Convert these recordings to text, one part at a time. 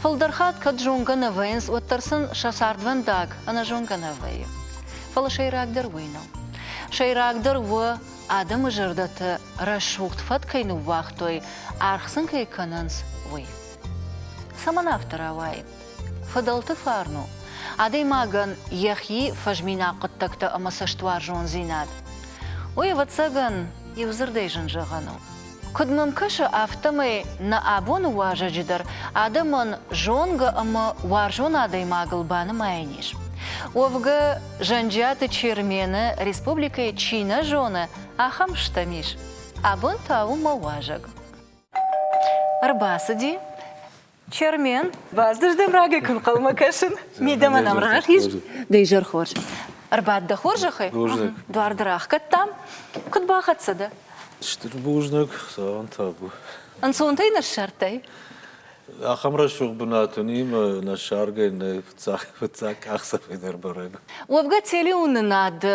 Фылдӕр хатт кӕд зонгӕ нӕ вӕййынц, уӕддӕр сын сӕ цардвӕндаг ӕнӕзонгӕ нӕ вӕййы. Фӕлӕ сӕйрагдӕр уый нӕу. Сӕйрагдӕр у, адӕмы зӕрдӕты рӕсугъд фӕд кӕй ныууагътой, аргъ сын кӕй кӕнынц, уый. Цӕмӕн афтӕ рауайы? Фыдӕлты фарн у, адӕймагӕн йӕхи фӕзминаг хъуыддӕгтӕ ӕмӕ цӕстуарзондзинад. Уый, ӕвӕццӕгӕн, иудзырдӕй зын зӕгъӕн у. Куыд мӕм кӕсы, афтӕмӕй нӕ абоны уазӕджы дӕр адӕмӕн зонгӕ ӕмӕ уарзон адӕймагыл банымайӕн ис. Уӕвгӕ, Зӕнджиаты Чермены республикӕйы чи нӕ зоны, ахӕм стӕм ис. Абон та у мӕ уазӕг. Ӕрбацыди Чермен, баздырдӕм рагӕй куы нхъӕлмӕ кӕсын, мидӕмӕ нӕм рахиз, дӕ изӕр хорз. Ӕрбад дӕ хорзӕхӕй, Хорзӕх. дуар дӕр ахгӕдтам. Куыд бахӕццӕ дӕ? Стыр бузныг, цауӕн табу. Ӕнцонтӕй ныссардтай? Ахӕм рӕсугъд бынат уынимӕ нӕ ссаргӕ нӕ фыццаг фыццаг къахдзӕфӕй дӕр барӕн. Уӕвгӕ телеуынынады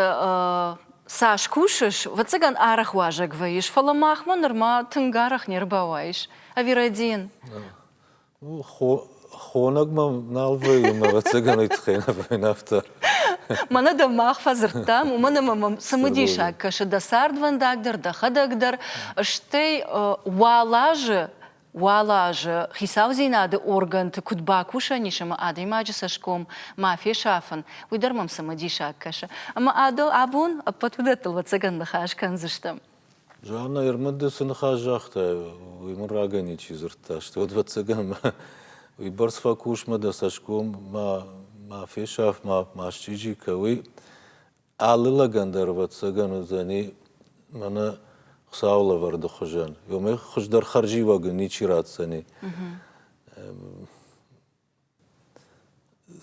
Цас кусыс, вӕццӕгӕн арӕх уазӕг вӕййыс, фӕлӕ махмӕ нырма тынг арӕх не рбауайыс. Ӕви рӕдийын? Хо хонӕг мӕм нал вӕййы мӕ ӕвӕццӕгӕн ӕй тыххӕй нӕ вӕййын афтӕ. Мӕнӕ дӕ мах фӕдзырдтам, уымӕн ӕмӕ мӕм цымыдисаг кӕсы дӕ цардвӕндаг дӕр, дӕхӕдӕг дӕр, стӕй уал азы Уал азы хицаудзинады органты куыд бакусӕн ис ӕмӕ адӕймаджы цӕсгом ма фесафын, уый дӕр мӕм цымыдисаг кӕсы. Ӕмӕ адыл абон ӕппӕт уыдӕттыл ӕвӕццӕгӕн ныхас кӕндзыстӕм. Жанна, Ермыды цы ныхас загътай, уый мын рагӕй ничи дзырдта, стӕй ӕвӕццӕгӕн мӕ уыйбӕрц фӕкус, мӕ дӕ цӕсгом ма ма фесаф, ма ма счъизи кӕ, уый. Алы лӕгӕн дӕр, ӕвӕццӕгӕн, уыдзӕни мӕнӕ Хуыцауы лӕвӕрды хуызӕн. Омӕ хуыздӕр хӕрзиуӕг ничи ратдзӕни.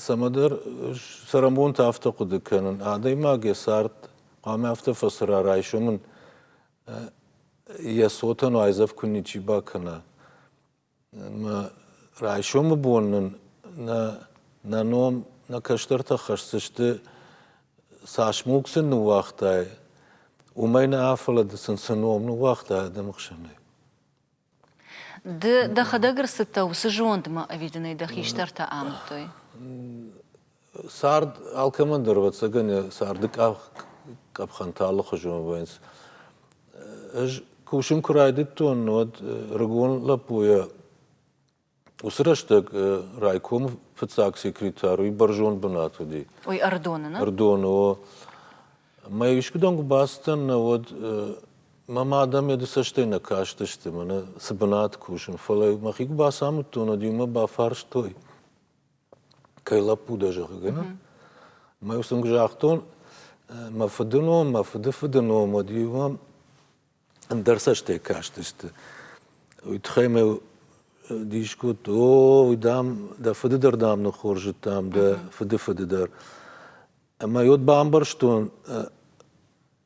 Цӕмӕдӕр цӕрӕнбонты афтӕ хъуыды кӕнын, адӕймаг йӕ цард хъуамӕ афтӕ фӕцӕра, райсомӕн йӕ цотӕн айдзӕф куы ничи бакӕна. Мӕ райсомы бон нын нӕ нӕ ном, нӕ кӕстӕртӕ хӕсдзысты, цас мулк сын ныууагътай, уымӕй нӕ афӕлыд сын цы ном ныууагъта адӕмы хсӕнӕй. Ды дӕхӕдӕг ӕрцыдтӕ уыцы зондмӕ ӕви дын ӕй дӕ хистӕртӕ амыдтой? Цард алкӕмӕн дӕр, ӕвӕццӕгӕн, йӕ царды къӕпхӕнтӕ алыхуызон вӕййынц. Ӕз кусын куы райдыдтон, уӕд ӕрыгон лӕппуйӕ уыцы рӕстӕг райкомы фыццаг секретарь уый бӕрзонд бынат уыди. Уый Ӕрдоны, нӕ? Ӕрдоны, о. Мӕ искуыдӕм куы бацыдтӕн, нӕ уӕд мӕм адӕм йӕ цӕстӕй нӕ кастысты, мӕнӕ цы бынат кусын, фӕлӕ мӕхи куы бацамыдтон, уӕд иумӕ бафарстой, кӕй лӕппу дӕ, зӕгъгӕ, нӕ? Мӕ ус ын загътон, мӕ фыдыном, мӕ фыдыфыды ном, уӕд иу ам ӕндӕр цӕстӕй кастысты. Уый тыххӕй мӕ дис кодта, о, уый дам, дӕ фыды дӕр дам ныххорзыдтам, дӕ фыдыфыды дӕр. Ӕмӕ йод бамбӕрстон,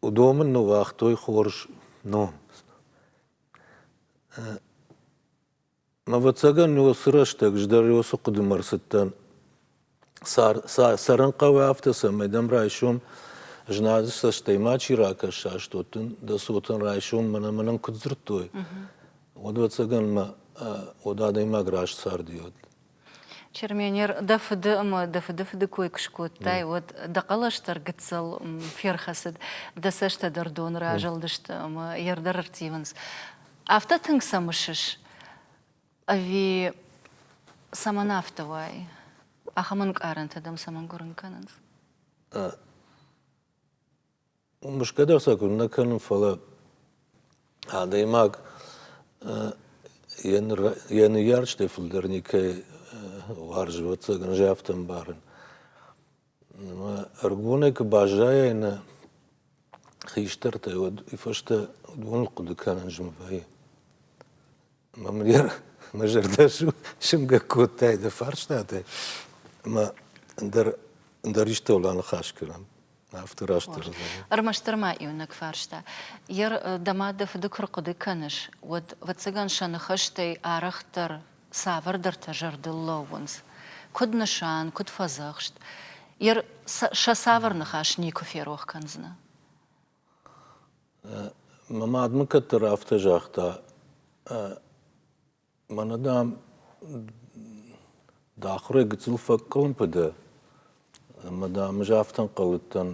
уыдон мын ныууагътой хорз ном. Ӕвӕццӕгӕн, уыцы рӕстӕг ӕз дӕр уыцы хъуыдымӕ ӕрцыдтӕн цӕрын хъӕуы афтӕ, цӕмӕй дӕм райсом знады цӕстӕй ма чи ракӕса, студен дӕ цотӕн райсом мӕнӕ мӕнӕн куыд дзырдтой, уӕд ӕвӕццӕгӕн мӕ уӕд адӕймаг раст царди уӕд. Черменер, дӕ фыды ӕмӕ дӕ фыдыфыды кой куы скодтай, уӕд дӕ хъӕлӕстӕр гыццыл ферхӕцыд, дӕ цӕстӕ дӕр доны разылдысты ӕмӕ йе рдӕр ӕрттивынц. Афтӕ тынг сӕ мысыс? Ӕви цӕмӕн афтӕ уай? Ахӕм ӕнкъарӕнтӕ дӕм цӕмӕн гуырын кӕнынц? Мысгӕ дӕр сӕ куыннӕ кӕнын, фӕлӕ адӕймаг йӕ ныййарджытӕй фылдӕр никӕй уарзы, ӕвӕццӕгӕн, ӕз афтӕ ӕмбарын. Ӕмӕ ӕрыгонӕй куы баззайай нӕ хистӕртӕй, уӕд уый фӕстӕ уыдоныл хъуыды кӕнын зын вӕййы. Мамлер, мӕ зӕрдӕ сымгӕ кодтай дӕ фарстаты, ӕмӕ ӕндӕр ӕндӕр истыл аныхас кӕнӕм. Афтӕ раст зӕгъын. Ӕрмӕстдӕр ма иунӕг фарста. Ер, дӕ мад дӕ фыды куы рхъуыды кӕныс, уӕд, ӕвӕццӕгӕн, сӕ ныхӕстӕй арӕхдӕр цавӕрдӕртӕ зӕрдыл лӕууынц. Куыд нысан, куыд фӕдзӕхст. Ер, сӕ цавӕр ныхас никуы ферох кӕндзынӕ. Мӕ мадмӕ кӕддӕр афтӕ загъта, мӕнӕ, дам, дӕ ахуырӕй гыццыл фӕкъуылымпы дӕ, ӕмӕ, дам, ӕз афтӕ ӕнхъӕлыдтӕн,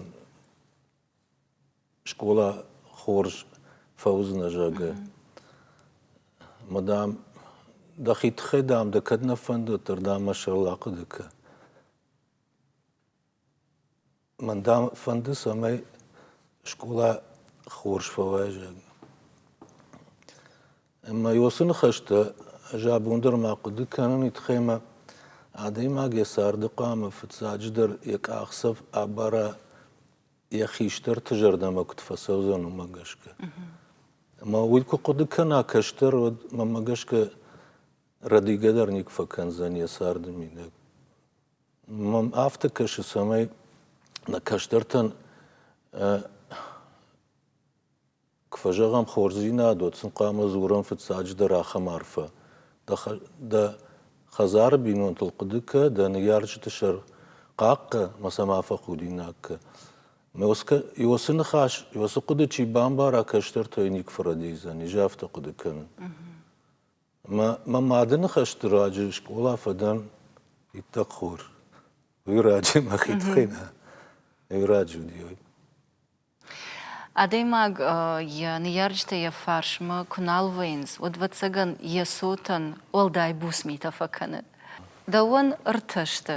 скъола хорз фӕуыдзынӕ, зӕгъгӕ. Мӕ, дам, дӕхи тыххӕй, дам, дӕ кӕд нӕ фӕндыд, уӕддӕр, дам, мӕ сӕрыл ахъуыды кӕн. Мӕн дам фӕнды, цӕмӕй скъола хорз фӕуӕзӕг. Ӕмӕ уыцы ныхӕстӕ ӕз абон дӕр ма хъуыды кӕнын и тыххӕй ӕмӕ адӕймаг йӕ царды хъуамӕ фыццаджыдӕр йӕ къахдзӕф абара йӕ хистӕрты зӕрдӕмӕ куыд фӕцӕудзӕн, уымӕ гӕсгӕ. Ӕмӕ уый куы хъуыды кӕна кӕстӕр, уӕд мӕнмӕ гӕсгӕ рӕдигӕ дӕр никуы фӕкӕндзӕн йӕ царды мидӕг. Мӕн афтӕ кӕсы, цӕмӕй нӕ кӕстӕртӕн куы фӕзӕгъӕм хорздзинадыл, сын хъуамӕ дзурӕм фыццаджыдӕр ахӕм арфӕ. Дӕ хӕдзары бинонтыл хъуыды кӕ, дӕ ныййарджыты сӕр хъахъхъӕ мӕ сӕ ма фӕхудинаг кӕ. Иосы ныхас, Иосы хъуыды чи бамбара, кӕстӕртӕй никуы фӕрӕдийдзӕн, изӕ афтӕ хъуыды кӕнын. Мӕ мады ныхӕсты раджы скъола фӕдӕн иттӕг хор. Уый раджы мӕхи тыххӕй нӕ уый раджы уыди уый. Адӕймаг йӕ ныййарджытӕ йӕ фарсмӕ куы нал вӕййынц, уӕд, ӕвӕццӕгӕн, йӕ цотӕн уӕлдай буц митӕ фӕкӕны. Дӕуӕн ӕртӕ сты.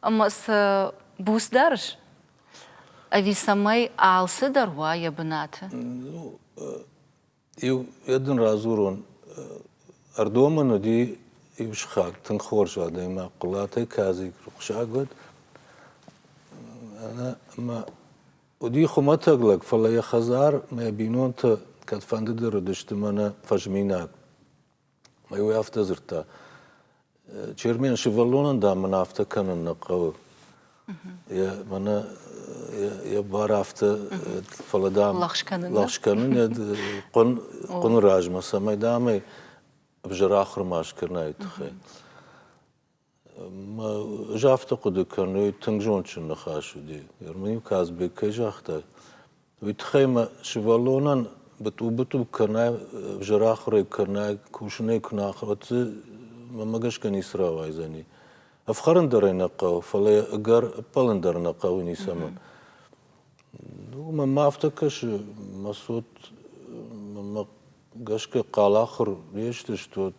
Ӕмӕ сӕ буц дарыс? Ӕви цӕмӕй алцыдӕр уа йӕ бынаты? Иу йӕ дын радзурон. Ӕрдомӕн уыди иу сыхаг, тынг хорз адӕймаг, Хъуылатӕй кӕдзыг рухсаг уыд. Ӕнӕ ӕмӕ уыди хуымӕтӕг лӕг, фӕлӕ йӕ хӕдзар, мӕ бинонтӕ кӕдфӕндыдӕр уыдысты мӕнӕ фӕзминаг. Уый афтӕ дзырдта. Чермен сывӕллонӕн, дам, мын афтӕ кӕнын нӕ хъӕуы. Йӕ мӕнӕ йӕ бар афтӕ, фӕлӕ дам лӕгъз кӕнын йӕ хъуын хъуыны размӕ, цӕмӕй дам ӕй ӕвзӕр ахуыр ма скӕнай тыххӕй. Ӕз афтӕ хъуыды кӕнын, тынг зондджын ныхас уыди. Ермолин Казбек кӕй загъта, уый тыххӕй мӕ сывӕллонӕн бытъу-бытъу кӕнӕ ӕвзӕр ахуырӕй кӕнӕ кусынӕй куы нӕ ахуыр, уӕд дзы мӕмӕ гӕсгӕ ницы рауайдзӕни. Ӕфхӕрын дӕр ӕй нӕ хъӕуы, фӕлӕ йӕ ӕгӕр ӕппӕлын дӕр нӕ хъӕуы ницӕмӕн. Мӕнмӕ афтӕ кӕсы, мӕ цот мӕмӕ гӕсгӕ хъал ахуыр не сдзыстут,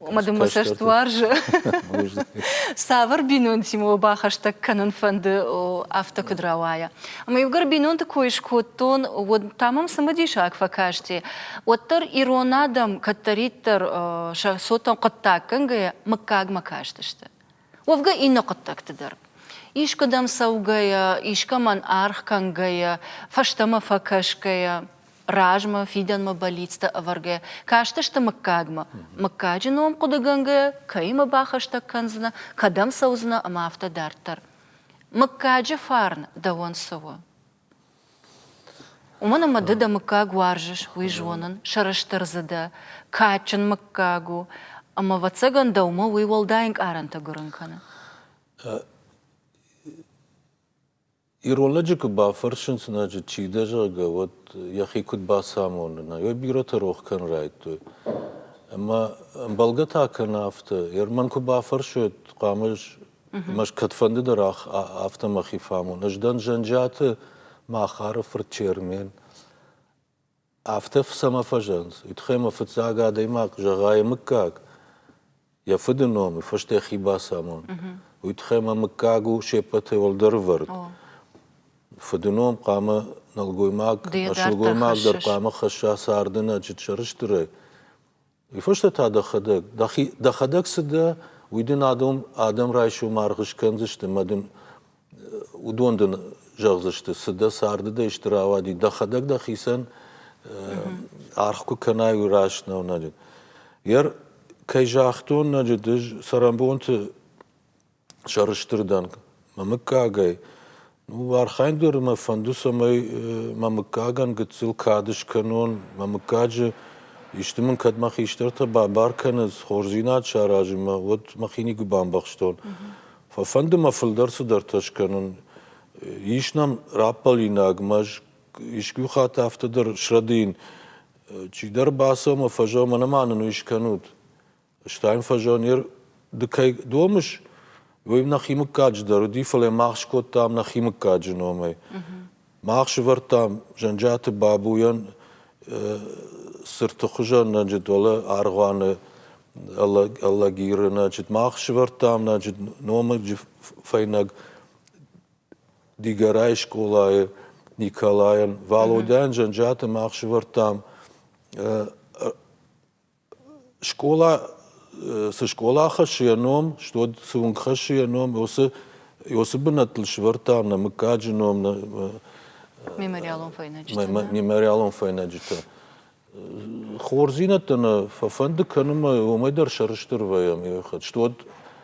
Мадаммӕ цӕст уарзы. Цавӕр бинонтимӕ уӕ бахӕстӕг кӕнын фӕнды, афтӕ куыд рауайа? Ӕмӕ иугӕр бинонты кой скодтон, уӕд та мӕм цымыдисаг фӕкасти. Уӕддӕр ирон адӕм кӕддӕриддӕр сӕ цотӕн хъуыддаггӕнгӕйӕ мыггагмӕ кастысты. Уӕвгӕ иннӕ хъуыддӕгты дӕр. Искуыдӕм цӕугӕйӕ, искӕмӕн аргъ кӕнгӕйӕ, фӕстӕмӕ фӕкӕсгӕйӕ, размӕ, фидӕнмӕ бӕллицтӕ ӕвӕргӕ, кастысты мыггагмӕ, мыггаджы ном хъуыдыгӕнгӕйӕ кӕимӕ бахӕстӕг кӕндзынӕ, кӕдӕм цӕудзынӕ ӕмӕ афтӕ дарддӕр. Мыггаджы фарн дӕуӕн цы у? уымӕн ӕмӕ ды дӕ мыггаг уарзыс уый зонын сӕрыстыр дзы дӕ кадджын мыггаг у ӕмӕ ӕвӕццӕгӕн дӕумӕ уый уӕлдай ӕнкъарӕнтӕ гуырын кӕны ирон лӕджы куы бафӕрсын сынӕджы чи дӕ зӕгъгӕ уӕд йӕхи куыд бацамоны нӕ йӕ бирӕтӕ рох кӕн райдтой ӕмӕ ӕмбӕлгӕ та кӕны афтӕ ерман куы бафӕрсой хъуамӕ Ӕмӕ ӕз кӕдфӕнды дӕр афтӕ мӕхи фӕамон. Ӕз дӕн Зӕнджиаты Махары фырт Чермен. Афтӕ цӕмӕ фӕзӕнц? Уый тыххӕй мӕ фыццаг адӕймаг зӕгъа йӕ мыггаг, йӕ фыды номы фӕстӕ йӕхи бацамон. Уый тыххӕй мӕ мыггаг у сеппӕтӕй уӕлдӕр ӕвӕрд. Фыды ном хъуамӕ нӕлгоймаг, нӕ сылгоймаг дӕр хъуамӕ хӕсса царды нӕ чыт сӕрыстырӕй. Уый фӕстӕ та дӕхӕдӕг, дӕхи, дӕхӕдӕг цы дӕ, уый дын адон адӕм райсомы аргъ скӕндзысты мӕ дын уыдон дын зӕгъдзысты, цы дӕ царды дӕ стыр ауади, дӕхӕдӕг дӕхицӕн аргъ куы кӕнай, уый раст нӕу ноджы. Йер, кӕй загътон ноджы, ды цӕрӕнбонты сӕрыстырдӕр. Мӕ мыггагӕй. Ну, архайын дӕр мӕ фӕнды, цӕмӕй мӕ мыггагӕн гыццыл кад скӕнон. Мӕ мыггаджы исты мын кӕд мӕ хистӕртӕ бабар кӕнынц, хорздзинад саразын мӕ, уӕд мӕхи никуы бамбӕхстон. Фӕфӕнды мӕ фылдӕр цыдӕртӕ скӕнын. Ис нӕм раппӕлинаг мӕз, искуы хатт афтӕ дӕр срӕдийын. Чидӕр бацӕуы мӕ фӕзӕгъы, мӕнӕ ма нын уый скӕнут. Стайм фазонер ды кӕй домыс, уый нӕхи мыггаджы дӕр уыди, фӕлӕ мах скодтам нӕхи мыггаджы номӕй. Мах сывӕрдтам Зӕнджиаты Бабуйӕн цырты хуызӕн, значит, уӕлӕ аргъуаны Алагиры, значит, мах сывӕрдтам, значит, номыджы фӕйнӕг Дигорайы скъолайы Николайӕн, Валодяйӕн Зӕнджиаты мах сывӕрдтам скъола цы скъола хӕссы йӕ ном, суыд цы уынг хӕссы йӕ ном, уыцы уыцы бынӕттыл сӕвӕрдта нӕ мыггаджы ном, нӕ мемориалон фӕйнӕджытӕ. Мемориалон фӕйнӕджытӕ. Хорздзинӕдтӕ нӕ фӕфӕнды кӕнын ӕмӕ уымӕй дӕр сӕрыстыр вӕййӕм йӕ хӕт. Суыд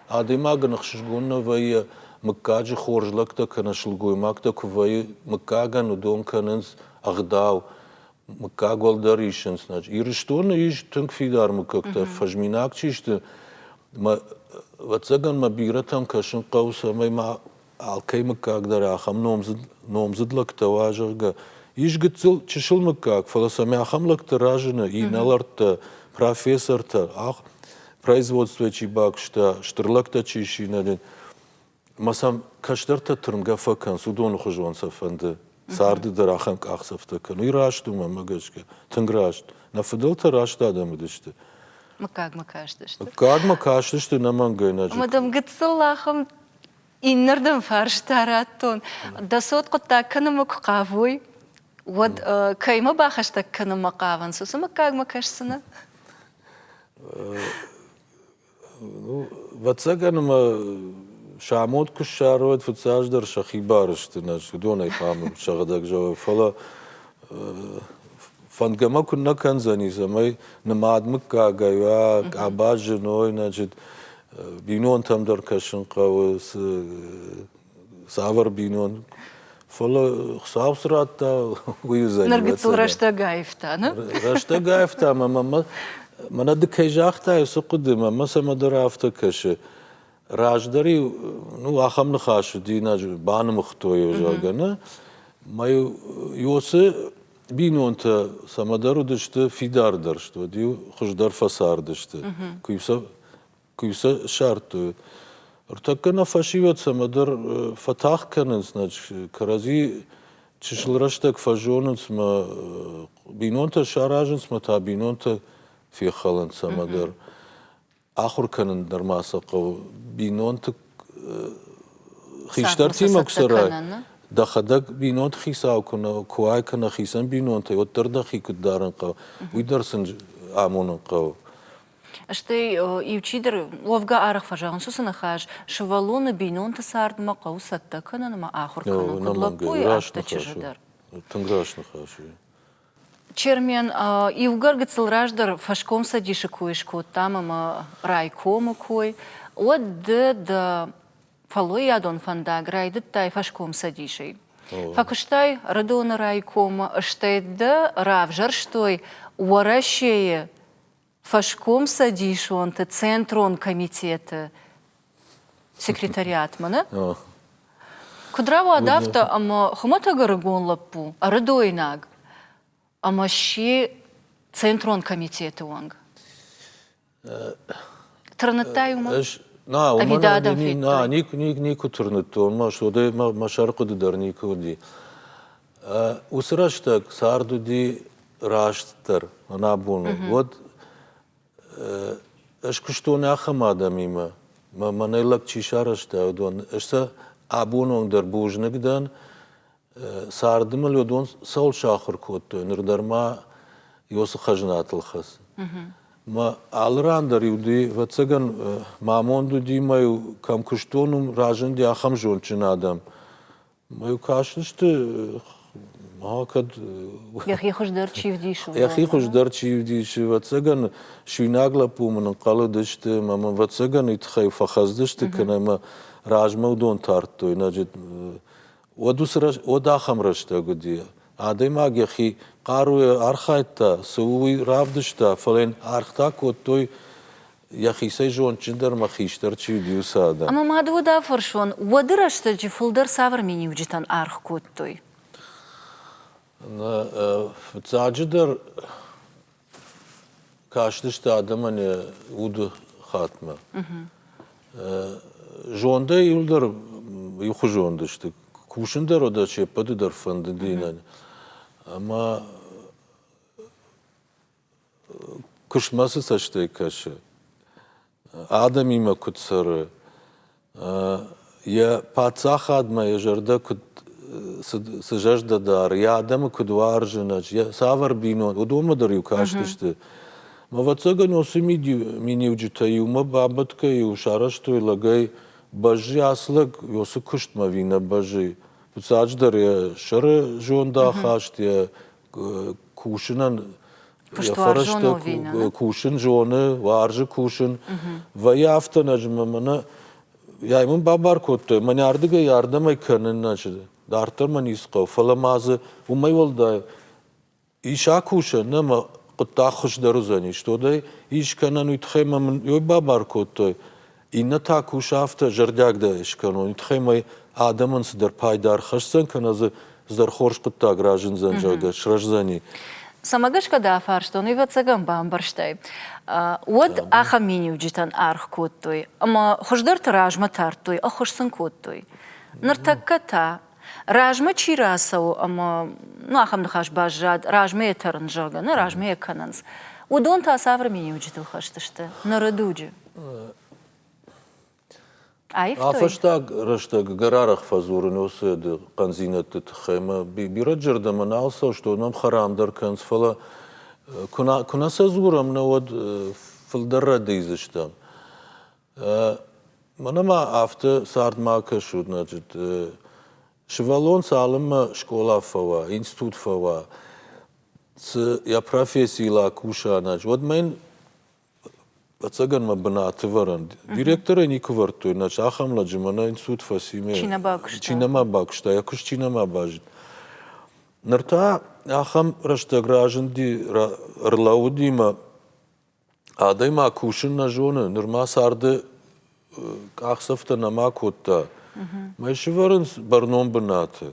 адӕймагӕн ӕхсызгон нӕ вӕййы, мыггаджы хорз лӕгтӕ кӕнӕ сылгоймӕгтӕ куы вӕййы, мыггагӕн уыдон кӕнынц ӕгъдау. Мыггаг уӕлдӕр исынц. Ирыстоны ис тынг фидар мыггӕгтӕ, фӕзминаг чи сты. Мӕ ӕвӕццӕгӕн мӕ бирӕтӕн кӕсын хъӕуы, цӕмӕй ма алкӕй мыггаг дӕр ахӕм номдзыд, номдзыд лӕгтӕ уа, зӕгъгӕ. Ис гыццыл чысыл мыггаг, фӕлӕ сӕм ахӕм лӕгтӕ разыны, инӕлӕрттӕ, профессортӕ, ах, производствӕ чи бакуыста, стыр лӕгтӕ чи синадин. ӕмӕ сӕм кӕстӕртӕ тырнгӕ фӕкӕнынц, уыдоны хуызон сӕ фӕнды царды дӕр ахӕм къахдзӕфтӕ кӕны. Уый раст у, мӕнмӕ гӕсгӕ, тынг раст. Нӕ фыдӕлтӕ раст адӕм уыдысты. Мыггагмӕ кастысты. Мыггагмӕ кастысты нӕмӕнгӕйнаджы. Ӕмӕ дӕм гыццыл ахӕм иннӕрдӕм фарста радтон. Дӕ цот хъуыддаг кӕнынмӕ куы хъавой, уӕд кӕимӕ бахӕстӕг кӕнынмӕ хъавынц, уыцы мыггагмӕ кӕсдзынӕ? Ӕвӕццӕгӕн ӕмӕ сӕ амод куы ссарой, фыццаджыдӕр сӕхи бар сты, нӕ уыдонӕй хъамыл сӕгъдӕг зӕгъой, фӕлӕ фӕндгӕ мӕ куыннӕ кӕндзӕни, цӕмӕй нымад мыггагӕй уа, къаба зыной, значит, бинонтӕм дӕр кӕсын хъӕуы, цы цавӕр бинон фӕлӕ Хуыцау цы радта, уый уыдзӕни. Ныр гыццыл рӕстӕг аивта, не? Рӕстӕг аивта, мӕ мӕнӕ ды кӕй загътай, уыцы хъуыды, мӕ цӕмӕдӕр афтӕ кӕсы. Раздӕр-иу, ну, ахӕм ныхас динаж банымыгътой, зӕгъгӕ, нӕ? Мӕ Иосы бинонтӕ цӕмӕдӕр уыдысты фидардӕрст, уӕд-иу хуыздӕр фӕцардысты. Куы-иу сӕ куы сӕ ссардтой. Ӕртӕккӕ нӕ фӕсивӕд цӕмӕдӕр фӕтагъд кӕнынц, значит, кӕрӕдзи чысыл рӕстӕг фӕзонынц мӕ бинонтӕ саразынц мӕ та бинонтӕ фехӕлынц цӕмӕдӕр. Ахуыр кӕнын нырма сӕ хъӕуы. Бинонты хистӕртимӕ куы цӕрай, дӕхӕдӕг бинонты хицау куы нӕ куай кӕнӕ хицӕн бинонтӕй, уӕддӕр дӕхи куыд дарын хъӕуы, уый дӕр сын амонын хъӕуы. Стӕй иучидӕр уӕвгӕ аргъ фӕзӕгъынц уыцы ныхас, сывӕллоны бинонты цардмӕ хъӕуы цӕттӕ кӕнын ӕмӕ ахуыр кӕнын куыд лӕппуйы, афтӕ чызджы дӕр. Тынг раст ныхас у. Чермен иугӕр гыццыл раздӕр фӕскомцӕдисы кой скодтам ӕмӕ райкомы кой, уӕд ды дӕ фӕллойадон фӕндаг райдыдтай фӕскомцӕдисӕй. Фӕкуыстай Рыдоны райкомы, стӕй дӕ равзӕрстой Уӕрӕсейы фӕскомцӕдисонты центрон комитеты секретариатмӕ нӕ куыд рауад афтӕ ӕмӕ хуымӕтӕг ӕрыгон лӕппу ӕрыдойнаг ӕмӕ сси центрон комитеты уӕнг тырныдтай уымӕ ӕз нӕ уымӕн нӕ никуы никуы тырныдтон мӕ уыдӕй мӕ сӕрхъуыды дӕр никуы уыди Уыцы рӕстӕг цард уыди растдӕр ӕнӕбоныл. Уӕд ӕз куыстон ахӕм адӕмимӕ, мӕ мӕнӕй лӕг чи сарӕзта, уыдон. Ӕз сӕ абонондӕр бузныг дӕн. Царды мыл уыдон цӕуыл сахуыр кодтой, ныр дӕр ма Иосы хӕзнатыл хӕцы. Мӕ алы ран дӕр-иу уыди, ӕвӕццӕгӕн, ма амонд уыди мӕ-иу кӕм куыстон, уым разынди ахӕм зондджын адӕм. Мӕ кастысты, ма кӕд... Йӕхи хуыздӕр чи вдисы? Йӕхи хуыздӕр чи вдисы. Ӕвӕццӕгӕн, суинаг лӕппу мын ӕнхъӕлыдысты, мӕ мӕ ӕвӕццӕгӕн уый тыххӕй фӕхӕцыдысты, кӕнӕ мӕ размӕ уыдон тардтой. Значит, уӕд, уыцы рӕс... уӕд ахӕм рӕстӕг уыди. Адӕймаг йӕхи хъаруйӕ архайдта, цы у уый равдыста, фӕлӕ йын ӕргътӕ кодтой йӕхицӕй зондджындӕр мӕ хистӕр чи уыди, уыцы адӕм. Ӕмӕ мады уд афӕрсон, уӕды рӕстӕджы фылдӕр цавӕр миниуджытӕн аргъ кодтой? Нӕ, фыццаджыдӕр кастысты адӕмӕн йӕ уды хатмӕ. Зондӕй иуылдӕр иухуызон сты. Кусын дӕр уыдо се ппӕты дӕр фӕндыд иннӕн. Ӕмӕ Куыстмӕ цы цӕстӕй кӕсы? Адӕмимӕ куыд цӕры? Йӕ паддзахадмӕ йӕ зӕрдӕ куыд цы зӕрдӕ дары, йӕ адӕмы куыд уарзы ӕнӕ цавӕр бинон, уыдонмӕ дӕр-иу кастысты. Ӕвӕццӕгӕн, уыцы миниуджытӕ-иу мӕ бабӕтгӕ-иу сарӕзтой лӕгӕй бӕзджы. Ацы лӕг уыцы куыстмӕ ӕви нӕ бӕзджы. Фыццаджыдӕр йӕ сӕры зондахаст, йӕ кусынӕн йӕ фӕрӕзтӕ кусын зоны, уарзы кусын. Вӕййы афтӕ нӕзымы мӕнӕ йӕ мын бабар кодтой, мӕн ардыгӕй ардӕмӕй кӕнын нӕ чызг. Дарддӕр мӕ ницы хъӕуы, фӕлӕ ма дзы уымӕй уӕлдай ис акусӕн, нӕ мӕ хъуыддаг хуыздӕр уыдзӕни, стодӕй ис кӕнӕн, уый тыххӕй мӕ мын йой бабар кодтой. Иннӕ та кусы афтӕ зӕрдиагдӕр скӕнон, тыххӕй адӕмӕн цыдӕр пайда ӕрхӕсдзӕн, кӕнӕ дзы цыдӕр хорз хъуыддаг разындзӕн, зӕгъгӕ, срӕздзӕни. Цӕмӕ гӕсгӕ дӕ фарстон, ӕвӕццӕгӕн бамбӕрстай? Уӕд ахӕм миниуджытӕн аргъ кодтой ӕмӕ хуыздӕрты размӕ тардтой, ӕххуыс сын кодтой. Ныртӕккӕ та размӕ чи рацӕуы ӕмӕ ну ахӕм ныхас баззад, размӕ йӕ тӕрын, зӕгъгӕ, нӕ размӕ йӕ кӕнынц, уыдон та цавӕр миниуджытыл хӕсдзысты? Ныры дуджы. Аивтой? Афӕстаг рӕстӕг гӕрарӕх фӕдзурын уыцы хъӕндзинӕдты тыххӕй мӕ бирӕ зӕрдӕмӕ нал сӕст, уыд мӕм хӕрам дӕр кӕнынц, фӕлӕ куы нӕ сӕ дзурӕм, нӕ уӕд фылдӕр рӕдийдзыстӕм. Мӕнӕ ма афтӕ цард ма кӕсут, нӕ джыты. Сывӕллон цалынмӕ скъола фӕуа, институт фӕуа, цы йӕ профессийыл акуса, нӕ джы, уӕдмӕ йын ӕцӕгӕн мӕ бынаты ӕвӕрӕн. Директорӕй никуы ӕвӕрдтой, нӕ джы, ахӕм лӕджы мӕнӕ институт фӕци ме. Чи нӕ бакуыста. Чи нӕма бакуыста, йӕ куыст чи нӕма базыд. Ныр та ахӕм рӕстӕг разынди, ӕрлӕууыди мӕ Адӕймаг кусын нӕ зоны, нырма царды къахдзӕфтӕ нӕма кодта. Мӕ сывӕрынц бӕрнон бынаты.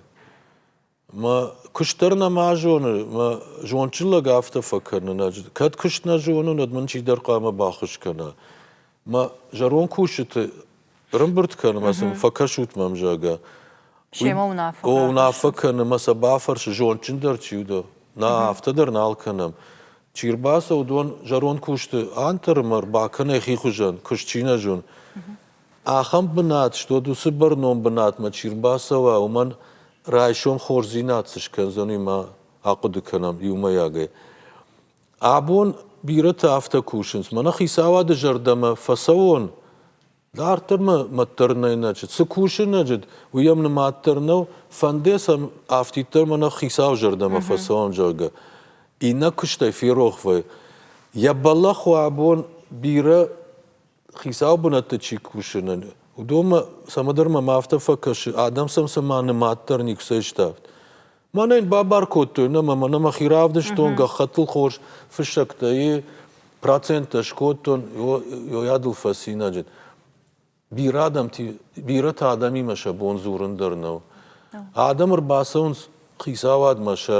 Мӕ куыст дӕр нӕма зоны, мӕ зондджын лӕг афтӕ фӕкӕны. Кӕд куыст нӕ зонын, уӕд мын чидӕр хъуамӕ баххуыс кӕна. мӕ зӕронд кусджыты рымбырд кӕны мӕ сын фӕкӕсут мӕм, зӕгъгӕ. Семӕ уынаффӕ. О, уынаффӕ кӕны мӕ сӕ бафӕрсы, зондджындӕр чи у дӕ? Нӕ, афтӕ дӕр нал кӕнӕм. Чи рбацӕуыд, уон зӕронд кусты антыры мӕр бакӕнай хи хуызӕн, куыст чи нӕ зон. Ахӕм бынат стод, уыцы бӕрнон бынатмӕ чи рбацӕуа, уымӕн райсом хорздзинад цы скӕндзӕн, уый ма ахъуыды кӕнӕм иумӕйагӕй. Абон бирӕтӕ афтӕ кусынц, мӕнӕ хицауады зӕрдӕмӕ фӕцӕуон, дарддӕр мӕ мӕт дӕр нӕй нӕджыт. Цы кусы нӕджыт, уый йӕм нымад дӕр нӕу, фӕнде сӕм афтиддӕр мӕнӕ хицау зӕрдӕмӕ фӕцӕуон, зӕгъгӕ. Иннӕ куыстӕй ферох вӕййы. Йӕ бӕллӕх у абон бирӕ хицау бынӕтты чи кусынӕн, уыдонмӕ цӕмӕдӕр мӕм афтӕ фӕкӕсы, адӕм сӕм цӕмӕ нымад дӕр никуыцӕй ставд. Мӕнӕ йын бабар кодтой, нӕ мӕ мӕ мӕхи равдыстон, гӕххӕттыл хорз фыссӕгтӕй, проценттӕ скодтон, йойадыл фӕцинаджыд. Бирӕ адӕмти, бирӕтӕ адӕмимӕ сӕ бон дзурын дӕр нӕу. Адӕм ӕрбацӕуынц хицауадмӕ сӕ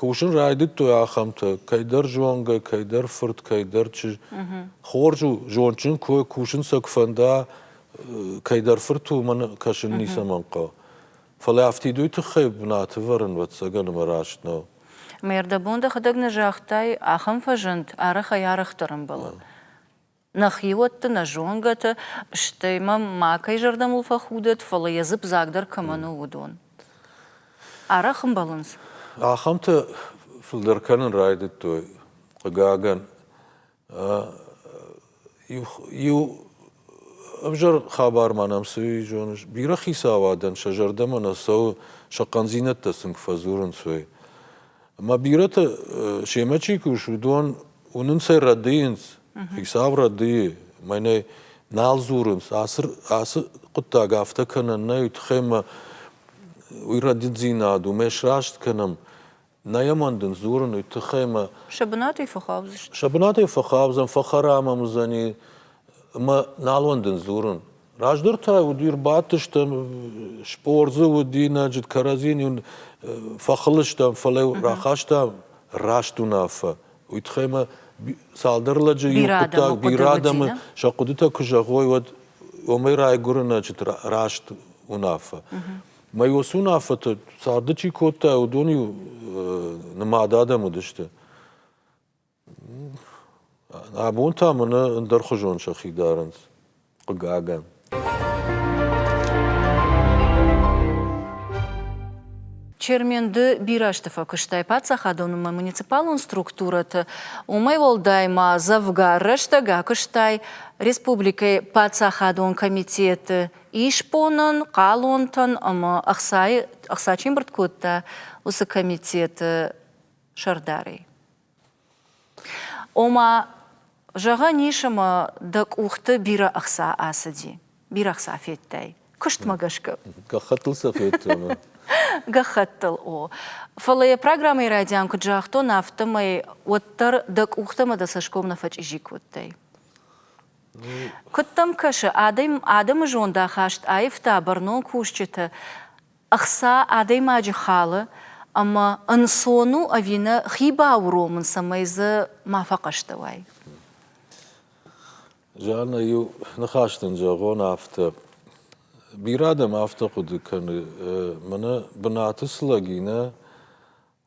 Кусын райдыдтой ахӕмтӕ: кӕйдӕр зонгӕ, кӕйдӕр фырт, кӕйдӕр чызг. Хорз у, зондджын куы уай, кусын сӕ куы фӕнда, кӕйдӕр фырт уымӕн кӕсын ницӕмӕн хъӕуы. Фӕлӕ афтидой тыххӕй бынаты ӕвӕрын, ӕвӕццӕгӕн, ӕмӕ раст нӕу. Мӕ ӕрдӕбон дӕхӕдӕг нӕ загътай, ахӕм фӕзынд, арӕх ӕй-арӕхдӕр ӕмбӕлы. Нӕ хиуӕтты, нӕ зонгӕты, стӕй мӕм макӕй зӕрдӕмыл фӕхудӕд, фӕлӕ йӕ дзып дзагдӕр кӕмӕн у, уыдон. Арӕх ӕмбӕлынц? Ахӕмтӕ фылдӕр кӕнын райдыдтой, хъыгагӕн. Иу, иу ӕвзӕр хабар ма нӕм цы и, зоныс? Бирӕ хицауадӕн сӕ зӕрдӕмӕ нӕ цӕуы, сӕ хъӕндзинӕдтӕ сын куы фӕдзурынц, уый. Ӕмӕ бирӕты семӕ чи кусы, уыдон уынынц ӕй рӕдыйынц, хицау рӕдыйы, мӕнӕ нал дзурынц. Ацы ацы хъуыддаг афтӕ кӕнӕн нӕй, уый тыххӕй мӕ уый рӕдыддзинад уымӕй сраст кӕнӕм. Нӕ йӕ мӕндынц дзурын, уый тыххӕй мӕ Сӕ бынатӕй фӕхъавдзысты. сӕ бынатӕй фӕхъавзӕм, фӕхӕрам ӕм уыдзӕни ӕмӕ нал уӕндын дзурын. Раздӕр та уыди рбадтыстӕм, спордзы уыди, нӕджы кӕрӕдзийын уын фӕхылыстӕм, фӕлӕ рахастам раст уынаффӕ. Уый тыххӕй мӕ цалдӕр лӕджы иу хъуыддаг, бирӕ адӕмы сӕ хъуыдытӕ куы зӕгъой, уӕд уымӕй райгуыры ноджы раст уынаффӕ. Мӕ уыцы уынаффӕты царды чи кодта, уыдон-иу нымад адӕм уыдысты. Абон та мӕнӕ ӕндӕрхуызон сӕхи дарынц, хъыгагӕн. Черменды бирӕ сты фӕкуыстӕй паддзахадонмӕ муниципалон структурӕты, уымӕй уӕлдай ма дзӕвгар рӕстӕг акуыстай республикӕйы паддзахадон комитеты исбонӕн, хъалонтӕн ӕмӕ ӕхцайы ӕхца чи мбырд кодта, уыцы комитеты сӕрдарӕй. Ома, зӕгъӕн ис ӕмӕ дӕ къухты бирӕ ӕхца ацыди, бирӕ ӕхца федтай. Куыстмӕ гӕсгӕ. Гӕххӕттыл сӕ федтон. Гӕххӕттыл, о. Фӕлӕ йӕ программӕйы райдиан куыд загътон, афтӕмӕй уӕддӕр дӕ къухтӕ ӕмӕ дӕ цӕсгом нӕ фӕчъизи кодтай. Куыд дӕм кӕсы, адӕм, адӕмы зондахаст аивта бӕрнон кусджыты Ӕхца адӕймаджы халы ӕмӕ ӕнцон у ӕви нӕ, хи бауромын, цӕмӕй дзы ма фӕхъӕстӕ уай. Жанна, иу ныхас дын зӕгъон афтӕ. Бирӕ адӕм афтӕ хъуыды кӕны, мӕнӕ бынаты цы лӕг и, нӕ,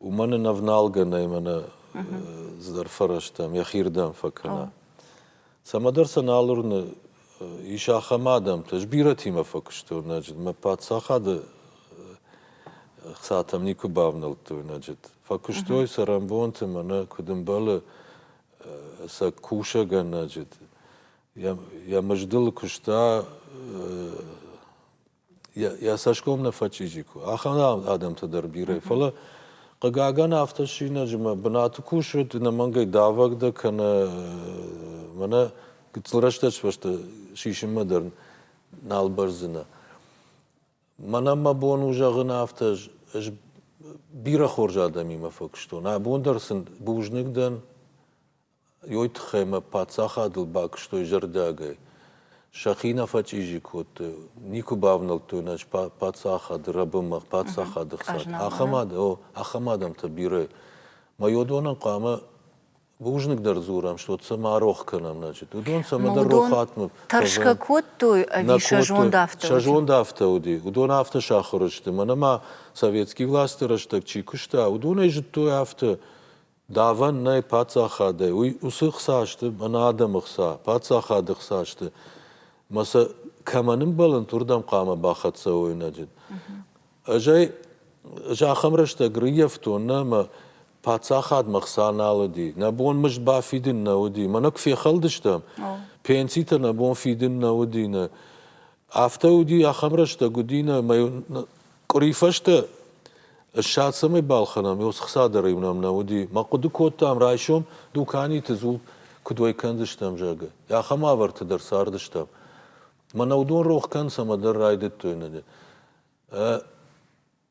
Уымӕн ын ӕвналгӕ нӕй мӕнӕ здӕр фӕрӕзтӕм, йӕхирдӕм фӕкӕна. Цӕмӕдӕр сӕ нал уырны, ис ахӕм адӕмтӕ. Ӕз бирӕтимӕ фӕкуыстон ноджыд. Мӕ паддзахады хцатӕм никуы бавнӕлдтой ноджыд. Фӕкуыстой цӕрӕнбонты мӕнӕ куыд ӕмбӕлы сӕ кусӕгӕн ноджыд. Йӕ мыздыл куыста йӕ цӕсгом нӕ фӕчъизи куы, ахӕм адӕмтӕ дӕр бирӕ. Фӕлӕ, хъыгагӕн, автосинӕджимӕ бынаты кусут, ӕнӕмӕнгӕй давӕг дӕ кӕнӕ мӕнӕ гыццыл рӕстӕг сфӕсты сисынмӕ дӕр нал бӕрздзынӕ. Мӕнӕн мӕ бон у зӕгъын афтӕ, ӕз бирӕ хорз адӕмимӕ фӕкуыстон. Абон дӕр сын бузныг дӕн, Уой туххӕй мӕ паддзахадыл бакуыстой зӕрдиагӕй. Сӕхи нӕ фӕчъизи кодтой, никуы бавнӕлдтой нӕ паддзахады рӕбынмӕ, паддзахады хсад. Ахӕм, о, ахӕм адӕмтӕ бирӕ. Майодонӕн хъуамӕ бузныгдӕр дзурӕм, что цӕмӕ рох кӕнӕм, значит, уыдон цӕмӕдӕр рохатмӕ тӕрсгӕ кодтой ӕви сӕ зонд афтӕ уыди? Сӕ зонд афтӕ уыди. Уыдон афтӕ сахуыр сты, мӕнӕ ма советские власты рӕстӕг чи куыста, уыдонӕй зыдтой афтӕ, Давӕн нӕй паддзахадӕй, уый уыцы хца сты мӕнӕ адӕмы хца, паддзахады хца сты, ӕмӕ сӕ кӕмӕн ӕмбӕлынт, уырдӕм хъуамӕ бахӕццӕ уойнаджы. Ӕз ӕй зӕххӕм рӕстӕг рыййӕфтон нӕ ӕмӕ паддзахадмӕ хца нал уыди, нӕ бон мызд бафидын нӕ уыди, мӕнӕ куы фехӕлдыстӕм, пенситӕ нӕ бон фидын нӕ уыди, нӕ Афтӕ уыди, ахӕм рӕстӕг уыди нӕ, ӕмӕ къуыри фӕстӕ ссад цӕмӕй балхӕнӕм, ё схца дӕр иунӕм нӕ уыди. Мӕ хъуыды кодтам, райсом дуканиты дзул куыд уӕй кӕндзыстӕм, зӕгъгӕ. Ахӕм уавӕрты дӕр цардыстӕм. Мӕнӕ уыдон рох кӕн цӕмӕдӕр райдыдтой нӕ.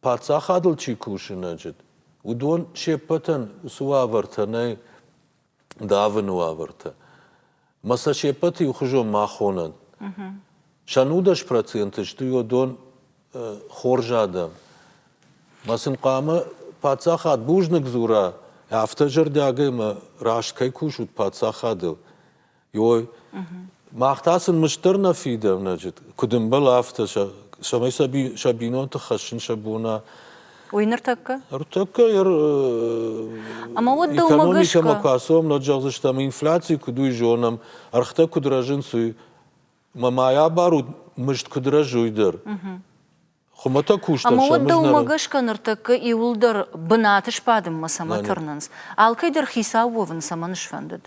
Паддзахадыл чи кусы ноджыд, уыдон се ппӕтӕн уыцы уавӕртӕ нӕй давыны уавӕртӕ. Мӕ сӕ се ппӕты иухуызон ма хонӕд. Сӕн удӕс проценты сты уыдон хорз адӕм. Мӕ сын хъуамӕ паддзахад бузныг дзура, афтӕ зӕрдиагӕй мӕ раст кӕй кусут паддзахадыл. Йой. Мах та сын мыст дӕр нӕ фидӕм ноджы, куыд ӕмбӕл афтӕ, сӕ, цӕмӕй сӕ, би, сӕ бинонты хӕссын сӕ бона. Ой, ныртӕккӕ? Ныртӕккӕ йӕр Ӕмӕ уӕд дӕумӕ экономикӕмӕ куы ацӕуӕм, нӕ зӕгъдзысты, ӕмӕ инфляци куыд уый зонӕм, ӕргътӕ куыд рӕзынц, уый. Мӕ мӕйӕ бар у мызд куыд рӕзой дӕр. Хуымӕтӕг кустӕн Ӕмӕ уӕд дӕумӕ гӕсгӕ ныртӕккӕ иуылдӕр бынаты сбадынмӕ цӕмӕ тырнынц? Алкӕй дӕр хицау уӕвын цӕмӕн сфӕндыд?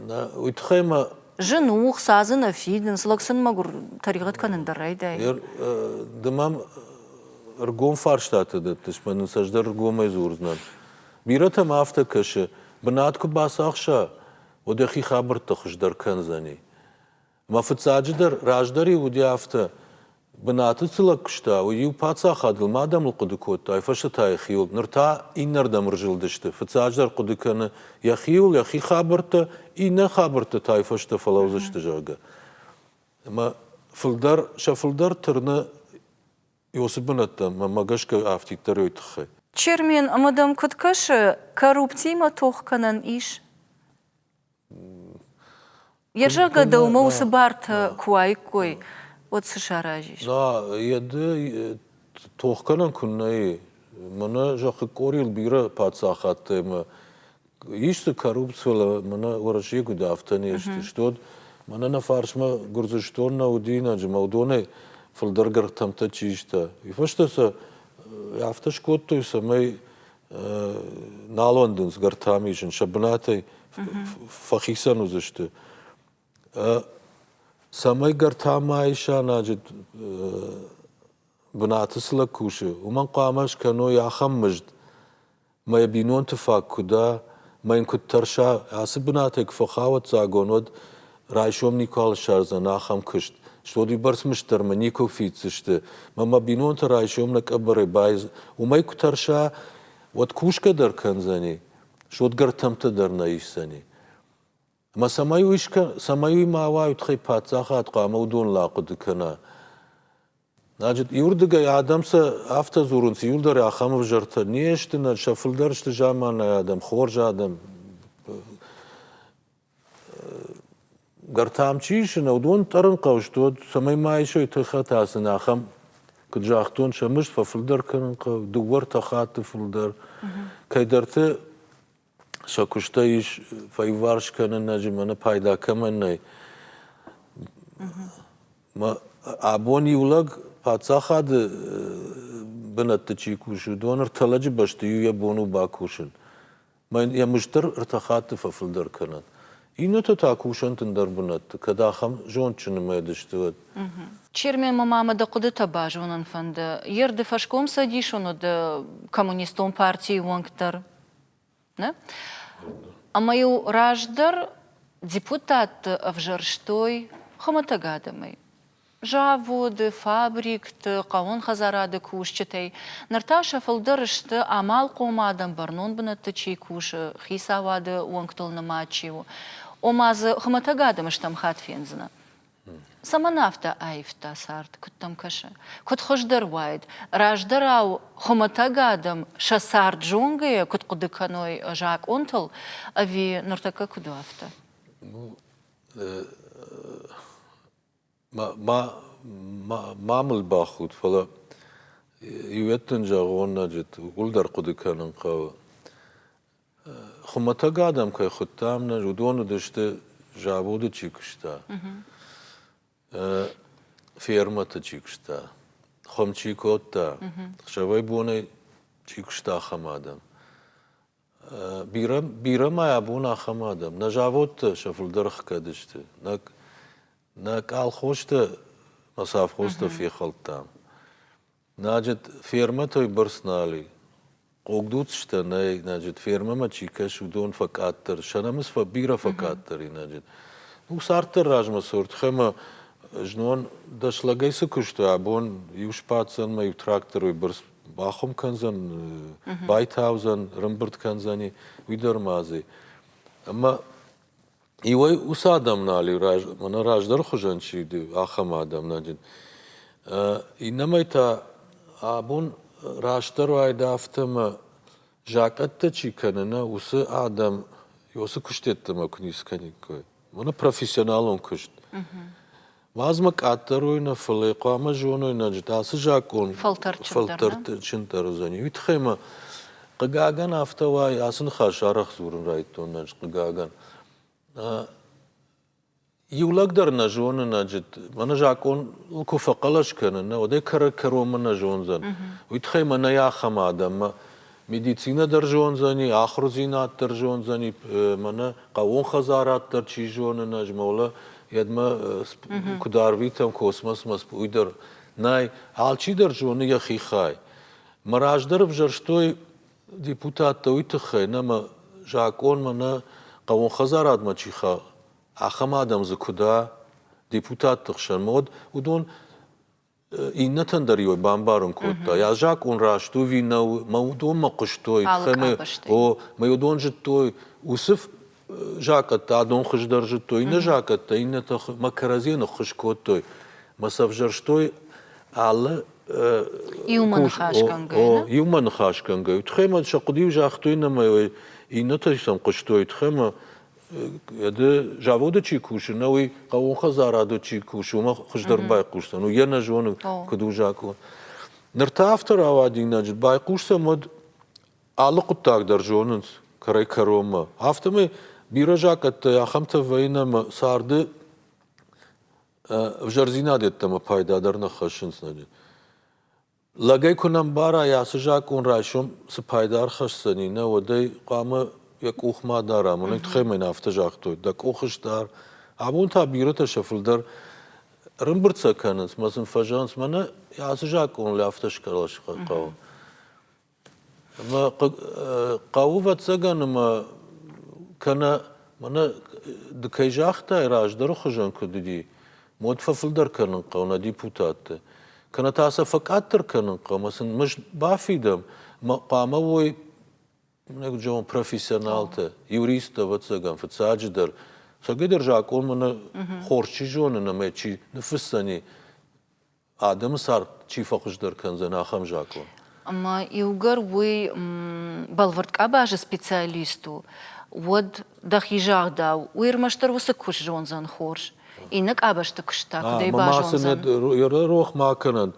Нӕ, уый тыххӕй мӕ. Зын у, хца дзы нӕ фидынц, лӕг сын мӕгуыр тӕригъӕд кӕнын дӕр райдайы. Ды мӕм ӕргом фарстатӕ дӕттыс, мӕн ын цӕстдӕр ӕргомӕй дзурдзынӕн. Бирӕтӕм афтӕ кӕсы, бынат куы бацахса, уӕд йӕхи хабӕртты хуыздӕр кӕндзӕни. Мӕ фыццаджыдӕр, раздӕр-иу уыди афтӕ, бынаты цы лӕг куыста, уый-иу паддзахадыл ма адӕмыл хъуыды кодта, уый фӕстӕ та йӕхиуыл. Ныр та иннӕрдӕм ӕрзылдысты. Фыццаджыдӕр хъуыды кӕны йӕхиуыл, йӕхи хабӕрттӕ, иннӕ хабӕрттӕ та уый фӕстӕ фӕлӕудзысты, зӕгъгӕ. Ӕмӕ фылдӕр, сӕ фылдӕр тырны Иосы бынӕттӕм, мӕнмӕ гӕсгӕ афтиддӕр уый тыххӕй. Чермен, ӕмӕ дӕм куыд кӕсы, корруптимӕ тох кӕнӕн ис? Йӕ зӕргӕ мӕ уыцы бартӕ куы уаиккой, уӕд цы саразис? Йӕ ды тохгӕнӕн куыннӕ и. Мӕнӕ зӕххы къорийыл бирӕ паддзахадтӕ ӕмӕ ис дзы коррупци, фӕлӕ мӕнӕ Уӕрӕсейы куыд афтӕ не сты. Стод мӕнӕ нӕ фарсмӕ Гуырдзыстон нӕ уыди инаджы мӕлдонӕй фылдӕр гӕрхтӕмтӕ чи иста. Уый фӕстӕ сӕ афтӕ скодтой, цӕмӕй Нал уӕндынц гӕртам исын сӕ бынатӕй фӕхицӕн уыдзысты. Цӕмӕй гӕртамайы сӕнӕджы бынаты цы лӕг кусы, уымӕн хъуамӕ скӕной ахӕм мызд, ӕмӕ йӕ бинонты фаг куы дӕ, ӕмӕ йын куыд тӕрса, ацы бынатӕй куы фӕхауӕццагон, уӕд Райсом никуал ссардзӕн ахӕм куыст. Стодибӕрц мыстырмӕ никуы фиддзысты. Мӕ мӕ бинонты райсом нӕ къӕбӕрӕй байз... Уымӕй куы тӕрса, уӕд кусгӕ дӕр кӕндзӕни, содгӕртӕмтӕ дӕр нӕ исдзӕни. Мӕ цӕмӕй уый, скӕ... цӕмӕй уый ма уа, уый тыххӕй паддзахад хъуамӕ уыдон лахъуыды кӕна. Значит, иуырдыгӕй адӕм сӕ афтӕ дзурынц, иуылдӕр ахӕм ӕвзӕртӕ не сты, нӕ сӕ фылдӕр сты заманайы адӕм, хорз адӕм. Гӕр та ам чи исына, уыдон тъӕрын хъӕуы сты, уӕд цӕмӕй ма исой тыххӕт асыны, ахӕм, куыд загътон, сӕ мызд фӕфылдӕр кӕнын хъӕуы, дыууӕ-ӕртӕ хатты фылдӕр. Кӕйдӕрты сӕ куыстӕй ис фӕиварс кӕнынаджы мӕнӕ пайда кӕмӕн нӕй. Мӕ абон иу лӕг паддзахады бынӕтты чи кусы, уыдон ӕртӕ лӕджы бӕсты иу йӕ бон у бакусын. Мӕн йӕ мызд дӕр ӕртӕ хатты фӕфылдӕр кӕнӕд. Иннӕтӕ та кусӕн тындӕр бынӕтты, кӕд ахӕм зондджын мӕд сты, уӕд. Черменмӕ ма мӕ дӕ хъуыдытӕ базонын фӕнды, йе рды фӕскомцӕдисон уыд коммунистон партийы уӕнг дӕр, нӕ? Ӕмӕ-иу раздӕр депутатты ӕвзӕрстой хуымӕтӕг адӕмӕй, Заводы, фабрикты, хъӕуын хӕдзарады кусджытӕй ныр та сӕ фылдӕр сты, амалхъом адӕм бӕрнон бынӕтты чи кусы, хицауады уӕнгтыл нымад чи у. Ома дзы хуымӕтӕг адӕмы стӕм хатт фендзынӕ. Цӕмӕн афтӕ аивта цард, куыд дӕм кӕсы? Куыд хуыздӕр уаид, раздӕрау хуымӕтӕг адӕм сӕ цард зонгӕйӕ куыд хъуыды кӕной закъонтыл, ӕви ныртӕккӕ куыд у афтӕ? Ну, Ма мыл бахуд, фӕлӕ иуӕтты дын зӕгъон ноджыдӕр, ууыл дӕр хъуыды кӕнын хъӕуы. Хуымӕтӕг адӕм кӕй хуыдтам, уыдон уыдысты, заводы чи куыста, фермӕты чи куыста, хуым чи кодта, ӕхсӕвӕй-бонӕй чи куыста, ахӕм адӕм. Бирӕ ма абон ахӕм адӕм, нӕ заводтӕ сӕ фылдӕр кӕд сты, нӕ къалхостӕ, нӕ совхозтӕ фехӕлдтам. Значит, фермӕтӕй бӕрц нал и. Хъогдуцтӕ нӕй, значит, фермӕмӕ чи кӕс, уыдон фӕкъаддӕр, сӕ намыс бирӕ фӕкъаддӕр и, значит. Ну, царддӕр размӕ цурд, хэмӕ знон дӕс лӕгӕй цы куыстой, абон иу сбаддзӕн мӕ иу тракторӕй бӕрц бахуым кӕндзӕн, байтаудзӕн, рымбырд кӕндзӕни уый дӕр ма дзы. Ӕмӕ иуӕй уыцы адам нал и, мӕнӕ раздӕры хуызӕн чи ды, ахӕм адам наджын. Иннӕмӕй та абон растдӕр уайда афтӕ ӕмӕ закъӕттӕ чи кӕны, нӕ уыцы адам уыцы куыстӕттӕмӕ куы ницы кӕниккой. Мӕнӕ профессионалон куыст. Уадзмӕ къаддӕрой нӕ, фӕлӕ хъуамӕ зонойнаджыты ацы закъон фӕлтӕрдджындӕр уыдзӕни. Уый тыххӕй мӕ, хъыгагӕн, афтӕ уайы, ацы ныхас арӕх дзурын райдтон ӕз, хъыгагӕн. Иу лӕг дӕр нӕ зоны наджыт. Мӕнӕ закъоныл куы фӕхъӕлӕс кӕны, нӕ, уӕд ӕй кӕрӕг-кӕронмӕ нӕ зондзӕн. Уый тыххӕй мӕнӕй ахӕм адӕммӕ Медицинӕ дӕр зондзӕни, ахурдзинад дӕр зондзӕни, мӕнӕ хъӕууон хӕдзарад дӕр чи зоны, ӕз молӕ едмӕ куыд арвитӕм космосмӕ, уый дӕр. Нӕй, алчи дӕр зоны йӕхи хай. Мӕ раздӕр ӕвзӕрстой депутаттӕ уый тыххӕй, нӕ мӕ закъонмӕ, нӕ хъӕууон хӕдзарадмӕ чи хауы, ахӕм адӕм дзы куыд а, депутатты хсӕн, ма уӕд уыдон Иннӕтӕн дӕр иу бамбарын кодта, йӕ закъон раст у ӕви нӕу, мӕ уыдонмӕ хъуыстой, о, мӕ уыдон зыдтой, уыцы закъӕттӕ адон хуыздӕр зыдтой, иннӕ закъӕттӕ иннӕтӕ мӕ кӕрӕдзийӕ ныххуыз кодтой, мӕ сӕвзӕрстой алы иумӕ ныхасгӕнгӕйӕ. Иумӕ ныхасгӕнгӕйӕ. Тхӕмӕ сӕ хъуыды-иу загътой, ӕмӕ иннӕтӕ сӕм хъуыстой, тхӕмӕ Йӕ заводы чи кусы, нӕ уый хъӕуон хӕдзарады чи кусы, уымӕ хуыздӕр байхъусдзӕн. Уый йӕ нӕ зоны, куыд у закъон. Ныр та афтӕ рауадинаджы байхъусдзӕн уӕд алы хъуыддаг дӕр зонынц кӕрӕй-кӕронмӕ. Афтӕмӕй бирӕ закъӕттӕй ахӕмтӕ вӕййын ӕмӕ царды ӕвзӕрдзинад йеддӕмӕ пайдадӕр нӕ хӕссынц ноджы. Лӕгӕй куы нӕ мбарай, ацы закъон райсом цы пайда ӕрхӕсдзӕни, нӕ, уӕд ӕй хъуамӕ йӕ къух ма дарам. Уый тыххӕй мын афтӕ загътой, дӕ къухыс дар. Абон та бирӕтӕ сӕ фылдӕр ӕрымбырцӕ кӕнынц мӕ сын фӕзӕнынц. Мӕнӕ ацы закъоныл афтӕ схъӕлӕс хъӕуы. Хъӕуы, ӕвӕццӕгӕн, ӕмӕ кӕнӕ мӕнӕ ды кӕй загътай, раздӕры хуызӕн куыд уыди, уӕд фӕфылдӕр кӕнын хъӕуы нӕ депутатты. Кӕнӕ та сӕ фӕкъаддӕр кӕнын хъӕуы, сын мызд бафидӕм, хъуамӕ уой профессионалтӕ, юристтӕ, ӕвӕццӕгӕн, фыццаджыдӕр. Цӕгӕйдӕр закъонмӕ нӕ хорз чи зоны ӕмӕ чи ныффысдзӕни, адӕмы цард чи фӕхуыздӕр кӕндзӕн, ахӕм закъон. Ӕмӕ иугӕр уый бӕлвырд къабазы специалист у, уӕд, дӕхи загъдау, уый ӕрмӕстдӕр уыцы куыст зондзӕн хорз, иннӕ къабӕзты куыст та куыдӕй базондзӕн? Рох ма кӕнӕн,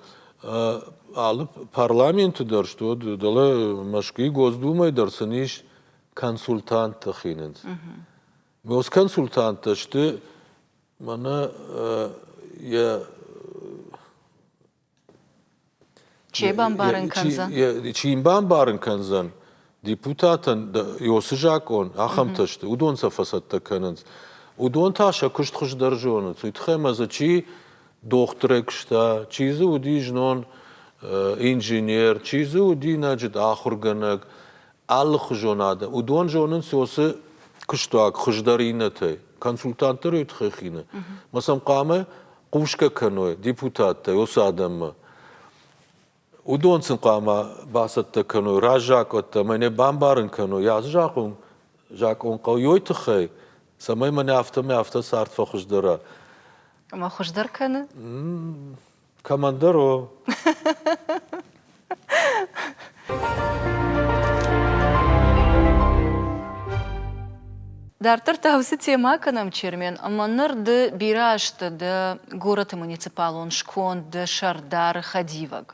алы парламенты дӕр стут, дӕлӕ Мӕскуыйы Госдумӕ дӕр сын ис консультанттӕ хинынц. Госконсультанттӕ сты Мӕнӕ йӕ Чи бамбарын кӕндзӕн? Чи йын бамбарын кӕндзӕн? Депутатӕн Иосы закъон, ахӕмтӕ сты, уыдон сӕ фӕцӕттӕ кӕнынц. Уыдон та сӕ куыст хуыздӕр зонынц. Уый тыххӕй ма дзы чи дохтырӕй куыста, чи дзы уыди знон инженер, чи дзы уыди нӕджыт ахуыргӕнӕг, алыхуызонады. Уыдон зонынц уыцы куыстуаг хуыздӕр иннӕтӕй, консультантты рӕй тыххӕй хины. Мӕ сӕм хъуамӕ хъусгӕ кӕной депутаттӕй уыцы адӕммӕ. Уыдон сын хъуамӕ бацӕттӕ кӕной раззакъуӕттӕ ӕмӕ не бамбарын кӕной, ацы закъон закъон хъӕуой тыххӕй, цӕмӕй мӕнӕ афтӕмӕй афтӕ цард фӕхуыздӕра. Ӕмӕ хуыздӕр кӕны? Командоро! Дарддӕр та уыцы темӕ кӕнӕм, Чермен, ӕмӕ ныр ды бирӕ азты дӕ горӕты муниципалон сконд, дӕ сӕрдар, хӕдивӕг.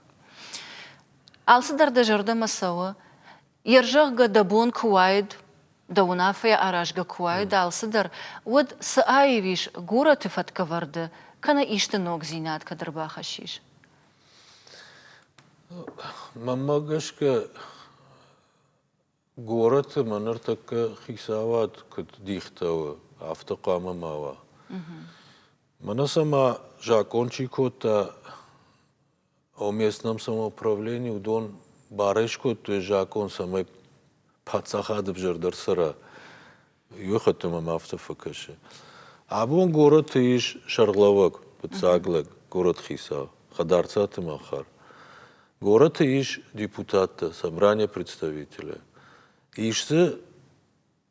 Алцыдӕр дӕ зӕрдӕмӕ цӕуы, Йе рзӕгъгӕ дӕ бон куы уаид, дӕ уынаффӕйӕ аразгӕ куы уаид алцыдӕр, уӕд цы аив ис горӕты фӕткӕвӕрды, кӕнӕ исты ногдзинад кӕд ӕрбахӕссис? Мӕнмӕ гӕсгӕ, горӕты мӕ ныртӕккӕ хицауад куыд дихтӕуы, афтӕ хъуамӕ ма уа. Мӕнӕ цӕмӕ закъон чи кодта, О местном самоуправлении уыдон барӕй скодтой закъон, цӕмӕй паддзахад ӕвзӕрдӕр цӕра. Иу хатты мӕм афтӕ фӕкӕсы. Абон горӕты ис сӕргълӕууӕг, фыццаг лӕг, горӕт хицау, Хъӕдӕрцаты Махар. Горӕты ис депутаттӕ, собрание представителя. Ис дзы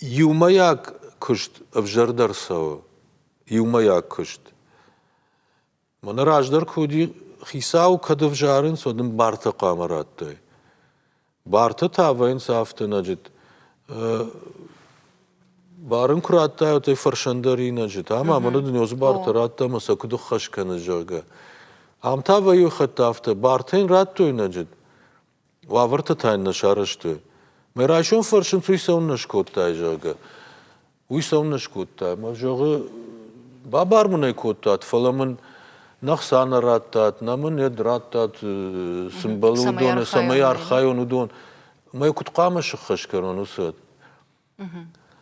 Иумӕйаг куыст ӕвзӕрдӕр цӕуы. Иумӕйаг куыст. Мӕнӕ раздӕр куы уыди, хицауы кӕд ӕвзарынц, уӕд ын барты хъуамӕ радтай. Барты та вӕййынц автоинаджыт. Бар ын куы радтай, уӕд ӕй фӕрсӕндӕринаджыт. Ам амӕны дунеон барты радта ӕмӕ сӕ куыд ӕххӕс кӕныс, зӕгъгӕ. Ам та вӕййы хатт афтӕ. Барты йын радтой инаджыт. уавӕрты та йын нӕ сарӕзтой. Мӕ райсом фӕрсынц, уый цӕуыннӕ скодтай, зӕгъгӕ. Уый цӕуыннӕ скодта. Мӕ зӕгъы, бабар мын ӕй кодтат, фӕлӕ мын нӕ хца нӕ радтат, нӕ мын ед радтат, цы мбӕлы уыдоны, цӕмӕй архайон уыдон. Мӕ куыд хъуамӕ сыххӕст кӕнон уыцы ад?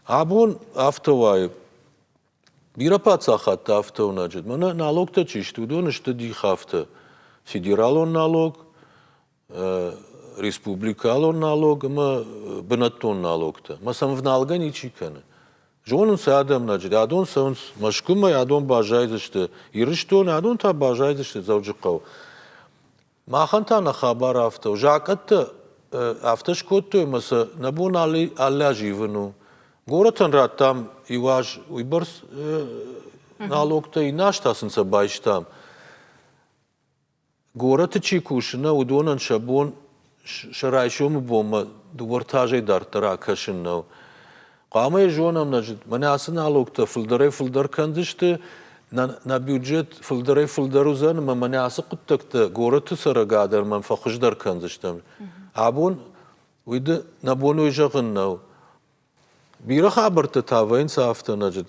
Абон афтӕ уайы, Бирӕ паддзахадты афтӕуынаджы мӕнӕ налогтӕ чи сты, уыдон сты дихавтӕ. Федералон налог, республикалон налог ӕмӕ бынӕттон налогтӕ. Мӕ сӕм ӕвналгӕ ничи кӕны. Зонынц адӕмнаджы, адон цӕуынц Мӕскуымӕ, адон баззайдзысты Ирыстоны, адон та баззайдзысты Дзӕуджыхъӕуы. Махӕн та нӕ хабар афтӕ у. Закъӕттӕ афтӕ скодтой ӕмӕ сӕ нӕ бон алы аз ивын у. Горӕтӕн радтам иу аз уыйбӕрц налогтӕ, иннӕ аз та сын сӕ байстам. Горӕты чи кусы, нӕ уыдонӕн сӕ бон сӕ райсомы бонмӕ дыууӕ этажӕй дарддӕр акӕсын нӕу. Хъуамӕ йӕ зонӕм, нӕ зыд. Мӕнӕ ацы налогтӕ фылдӕрӕй-фылдӕр кӕндзысты, нӕ, нӕ бюджет фылдӕрӕй-фылдӕр уыдзӕн ӕмӕ мӕнӕ ацы хъуыддӕгтӕ горӕты цӕрӕгады ӕрмӕм фӕхуыздӕр кӕндзыстӕм. Абон уыйды нӕ бон уый зӕгъын нӕу. Бирӕ хабӕрттӕ та вӕййынц афтӕ, нӕ зыд.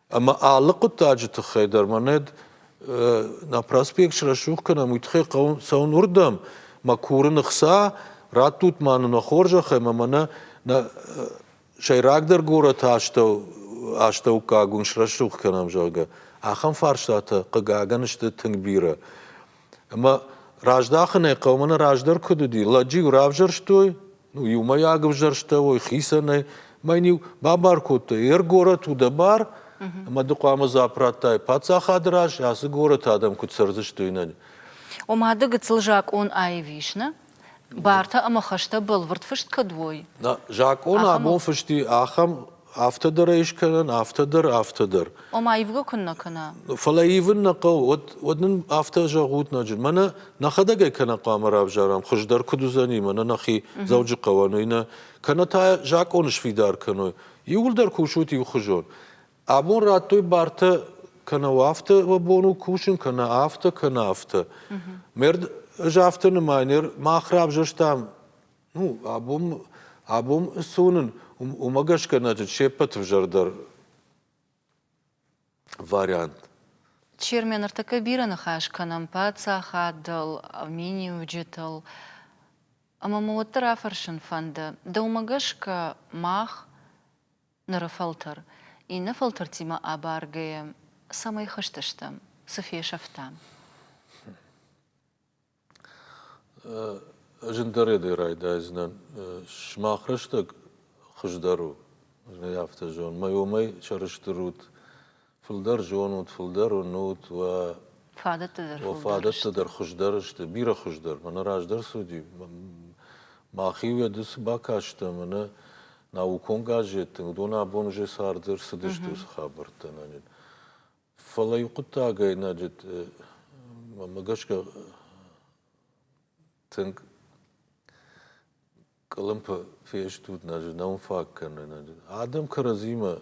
Ӕмӕ алы хъуыддаджы тыххӕй дӕр мӕнӕд нӕ проспект срӕсугъ кӕнӕм, уый тыххӕй хъӕуы цӕуын уырдӕм, мӕ курын ӕхца, раттут ма нын нӕ хорзӕхӕй, ӕмӕ мӕнӕ нӕ сӕйрагдӕр горӕты астӕу астӕуккаг уын срӕсугъ кӕнӕм, зӕгъгӕ. Ахӕм фарстатӕ, хъыгагӕн, сты тынг бирӕ. Ӕмӕ раздахынӕй хъӕумӕ нӕ раздӕр куыд уыди, лӕджы-иу равзӕрстой, ну, иумӕйаг ӕвзӕрстӕуой, хицӕнӕй, мӕ йын-иу бабар кодтой, ер горӕт у дӕ бар, ӕмӕ ды хъуамӕ дзуапп радтай паддзахады раз, ацы горӕты адӕм куыд цӕрдзысты, уый нӕ. Ома ды гыццыл закъон аив ис, нӕ? Бартӕ ӕмӕ хӕстӕ бӕлвырд фыст кӕд уой? Нӕ закъон абон фыст и ахӕм Афтӕ дӕр ӕй скӕнӕн, афтӕ дӕр, афтӕ дӕр. Ома ивгӕ куыннӕ кӕна? Фӕлӕ ивын нӕ хъӕуы. Уӕд, уӕд нын афтӕ зӕгъут, Наджи. Мӕнӕ нӕхӕдӕг ӕй кӕнӕ хъуамӕ равзарӕм, хуыздӕр куыд уыдзӕни, мӕнӕ нӕхи Дзӕуджыхъӕуӕн, уый нӕ, кӕнӕ та закъоны сфидар кӕной. Иууылдӕр кусут иухуызон. Абон радтой бартӕ кӕнӕ афтӕ уӕ бон у кусын, кӕнӕ афтӕ, кӕнӕ афтӕ. Мӕ ызӕфты нымайынер мах равзӕрстам, ну, абон, абон цы уынын, уымӕ гӕсгӕ нӕ се ппӕты взӕрдӕр вариант. Чермен, ӕртӕккӕ бирӕ ныхас кӕнӕм паддзахадыл, миниуджытыл, ӕмӕ мӕ уӕддӕр афӕрсын фӕнды, дӕумӕ гӕсгӕ мах ныры фӕлтӕр иннӕ фӕлтӕртимӕ абаргӕйӕ цӕмӕй хызтыстӕм, цы фесӕфтам? Зындӕр йӕ райдайдзынӕн. Сымах рӕстӕг хуыздӕр у. Ӕз ӕй афтӕ зонын. Мӕ уымӕй сӕрыстыр ут Фылдӕр зонут, фылдӕр уынут, уӕ фадӕттӕ дӕр, уӕ фадӕттӕ дӕр хуыздӕр сты, бирӕ хуыздӕр. Мӕнӕ раздӕр цуди. Мӕхи уӕды цы бакастӕн, мӕнӕ наукон газеттӕ, уыдон абон уже царды ӕрцыдысты уыцы хабӕрттӕ нӕнин. Фӕлӕ иу хъуыддагӕй нӕ мӕ гӕсгӕ тынг къуылымпы фестут, нӕ знон фаг кӕнын. Адӕм кӕрӕдзимӕ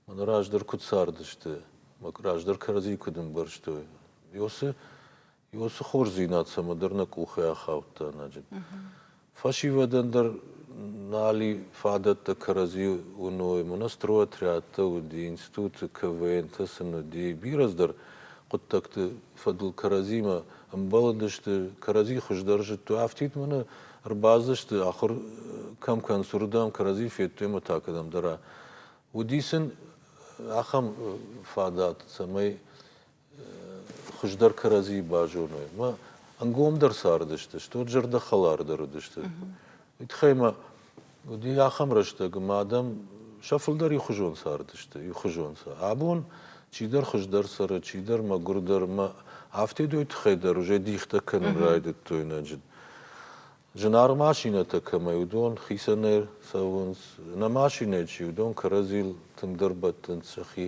мӕн раздӕр куыд цардысты, мӕ раздӕр кӕрӕдзи куыд ӕмбӕрстой. Ёсы, ёсы хорздзинад цӕмӕдӕр нӕ къухӕй ахаудта ноджы. Фӕсивӕдӕн дӕр нал и фадӕттӕ кӕрӕдзи уыной. Монострой отрядтӕ уыди, институты КВН-тӕ сын уыди. Бирӕ дӕр хъуыддӕгты фӕдыл кӕрӕдзимӕ ӕмбӕлыдысты. Кӕрӕдзи хуыздӕр зыдтой. Афтид мӕнӕ Ӕрбацыдысты, ахуыр кӕм кӕныс, уырдӕм, кӕрӕдзийы федтой ӕмӕ та кӕдӕмдӕра. Уыди сын ахӕм фадат, цӕмӕй хуыздӕр кӕрӕдзийы базоной. Мӕ ӕнгомдӕр цардысты, стут зӕрдӕхӕлардӕр уыдысты. Уый тыххӕй мӕ Уыди ахӕм рӕстӕг, ӕмӕ адӕм сӕ фылдӕр иухуызон цардысты, иухуызон сӕ. Абон чидӕр хуыздӕр цӕры, чидӕр мӕгуырдӕр, ӕмӕ афтедой тыххӕй дӕр уже дихтӕ кӕнын райдыдтой нӕ зынаргъ машинӕтӕ кӕмӕй уыдон хицӕнӕй цӕуынц, нӕ машинӕйы чи уыдон кӕрӕдзийыл тынгдӕр бӕттынц сӕхи.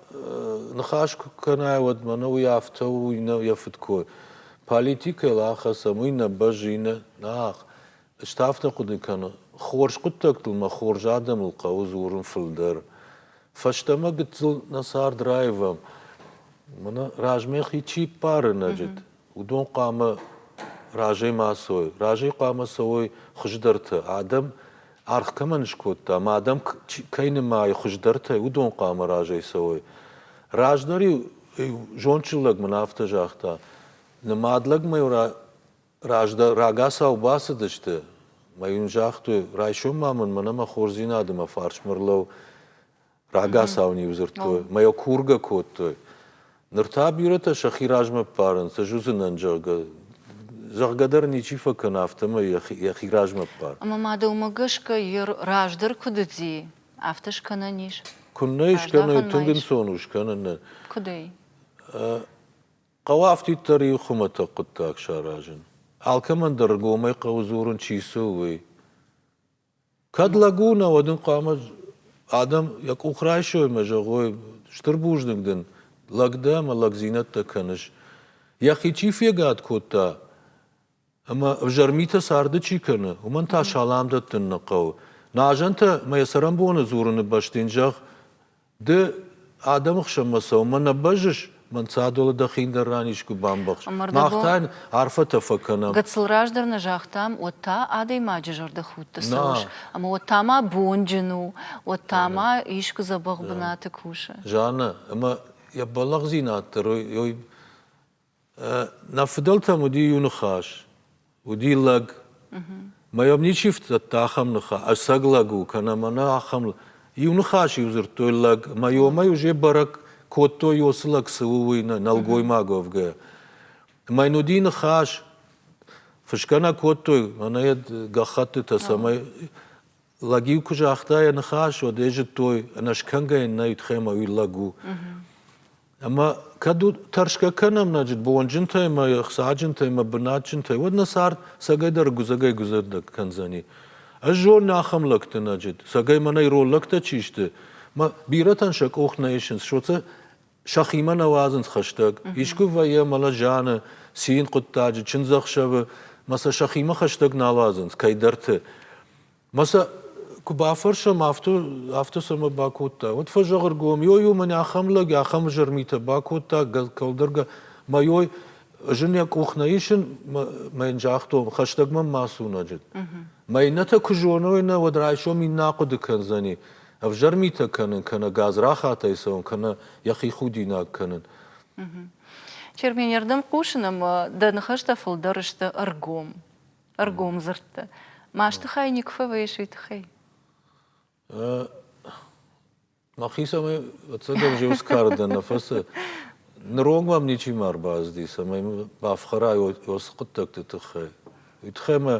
ныхас куы кӕнай, уӕд мӕнӕ уый афтӕ у, уый нӕ йӕ фыдкой. Политикӕйыл ахӕцӕм, уый нӕ бӕззы, нӕ нах. Ӕз та афтӕ хъуыды кӕны, хорз хъуыддӕгтыл мӕ хорз адӕмыл хъӕуы дзурын фылдӕр. Фӕстӕмӕ гыццыл нӕ цард раивӕм. Мӕнӕ размӕ хи чи ппары нӕджыт, уыдон хъуамӕ разӕй ма цӕуой. Разӕй хъуамӕ цӕуой хуыздӕрты. Адӕм аргъ кӕмӕн скодта, ма адӕм кӕй нымайы хуыздӕртӕй, уыдон хъуамӕ разӕй цӕуой. Раздӕр-иу зондджын лӕг мын афтӕ загъта, нымад лӕгмӕ-иу раздӕр рагацау бацыдысты, мӕ йын загътой, райсом ма мын мӕнӕ мӕ хорздзинады мӕ фарсмӕ рлӕу, Рагацау-иу дзырдтой, мӕ йӕ кургӕ кодтой. Ныр та бирӕтӕ сӕхи размӕ ппарынц, ӕз уыдзынӕн, зӕгъгӕ. Зӕгъгӕ дӕр ничи фӕкӕна, афтӕмӕй йӕхи размӕ ппар. Ӕмӕ ма дӕумӕ гӕсгӕ Ир раздӕр куыд уыди, афтӕ скӕнӕн ис? Куыннӕ скӕной, тынг ӕнцон у скӕнын нӕ. Куыдӕй? Хъӕуы афтиддӕр-иу хуымӕтӕг хъуыддаг саразын. Алкӕмӕн дӕр ӕргомӕй хъӕуы дзурын, чи цы у, уый. Кӕд лӕг у, науӕд ын хъуамӕ адӕм йӕ къух райсоймӕ зӕгъой: стыр бузныг дын, лӕг дӕ ӕмӕ лӕгдзинӕдтӕ кӕныс. Йӕхи чи фегад кодта ӕмӕ ӕвзӕр митӕ царды чи кӕны, уымӕн та салам дӕттын нӕ хъӕуы. Нӕ азӕнтӕ мӕ йӕ цӕрӕнбоны дзурыны бӕсты йын зӕгъ: Ды адӕмы хсӕнмӕ цӕуынмӕ нӕ бӕззыс, мӕнцадоны дӕхин дӕр ранис куы бамбӕхс. Мах та йын арфӕтӕ фӕкӕнӕм. Гыццыл раздӕр нӕ загътам, уӕд та адӕймаджы зӕрдӕхудты цӕуыс, ӕмӕ уӕд та ма бонджын у, уӕд та ма искуы дзӕбӕх бынаты кусы. Жаннӕ, ӕмӕ йӕ бӕллӕхдзинад дӕр ой Нӕ фыдӕлтӕм уыди иу ныхас, уыди лӕг. Мӕ йӕм ничи фӕдзырдта ахӕм ныхас, ӕцӕг лӕг у кӕнӕ мӕнӕ ахӕм. Иу ныхас-иу дзырдтой лӕг, мӕ омӕ уже бӕрӕг кодтой, уыцы лӕг цы у, уый нӕлгоймаговгӕ. Мӕ йын уыди ныхас, фысгӕ нӕ кодтой, мӕнӕ йӕ гӕххӕттытӕ, цӕмӕй лӕг-иу куы загъта йӕ ныхас, уӕд ӕй зыдтой, ӕнӕскӕнгӕ йын нӕ ютхӕмӕ уый лӕг у. Ӕмӕ кӕд у тӕрсгӕ кӕнӕм нӕ бонджынтӕй ӕмӕ ӕхцаджынтӕй ӕмӕ бынатджынтӕй, уӕд нӕ цард цӕгӕйдӕр гуызӕгӕй-гуызӕгдӕр кӕндзӕни. Ӕз зонын ахӕм лӕгты, нӕ цӕгӕй мӕнӕй ирон лӕгтӕ чи сты, мӕ бирӕтӕн сӕ къух нӕ исынц, соцӕ сӕхимӕ нӕ уадзынц хӕстӕг. Искуы вӕййы мӕлӕт зианы, цин хъуыддаджы, чындзӕхсӕвы, мӕ сӕ сӕхимӕ хӕстӕг нал уадзынц, кӕйдӕрты. Мӕ сӕ куы бафӕрсӕм, афтӕ, афтӕ цӕмӕ бакодта, уӕд фӕзӕгъыргом, йой-ой, мӕн ахӕм лӕг, ахӕм изӕр митӕ бакодта, кӕлдӕргӕ, мӕ йой, ӕз ын йӕ къух нӕ исын, мӕ йын загътон, хӕстӕг мӕм ма сунаджыд. Мӕ иннӕтӕ куы зоной, нӕ, уӕд райсом иннӕ ахъуыды кӕндзӕни, ӕвзӕр митӕ кӕнын, кӕнӕ гадзрахатӕй цӕуын, кӕнӕ йӕхи худинаг кӕнын. Чермены рдӕм хъусын ӕмӕ дӕ ныхӕстӕ фылдӕр сты ӕргом. ӕргом дзырдтӕ. Масты хай никуы фӕвӕййыс уый тыххӕй? Мӕхицӕмӕй ӕцӕгӕн зиу скардӕн нӕ фӕцы. Ныронг мӕм ничи ма ӕрбазди, цӕмӕй бафхӕрай уыцы хъуыддӕгты тыххӕй. Уый тыххӕй мӕ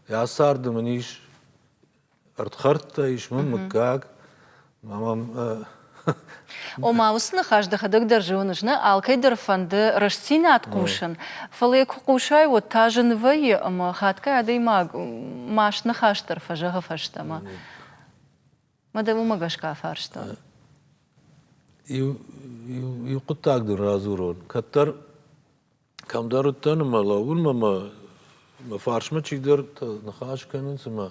йӕ царды мын ис Ӕрдхӕрдтӕ ис мын мыггаг. Ма мӕм Ома, уыцы ныхас дӕхӕдӕг дӕр зоныс, нӕ? Алкӕй дӕр фӕнды рӕстдзинад хъусын, фӕлӕ йӕ куы хъусай, уӕд та зын вӕййы ӕмӕ хатгай адӕймаг маст ныхас дӕр фӕзӕгъы фӕстӕмӕ. Ма дӕ уымӕ гӕсгӕ афарстон. Иу, иу, иу хъуыддаг дын радзурон. Кӕддӕр Кӕмдӕр уыдтӕн ӕмӕ лӕууын ӕмӕ мӕ фарсмӕ чидӕр ныхас кӕнынц ӕмӕ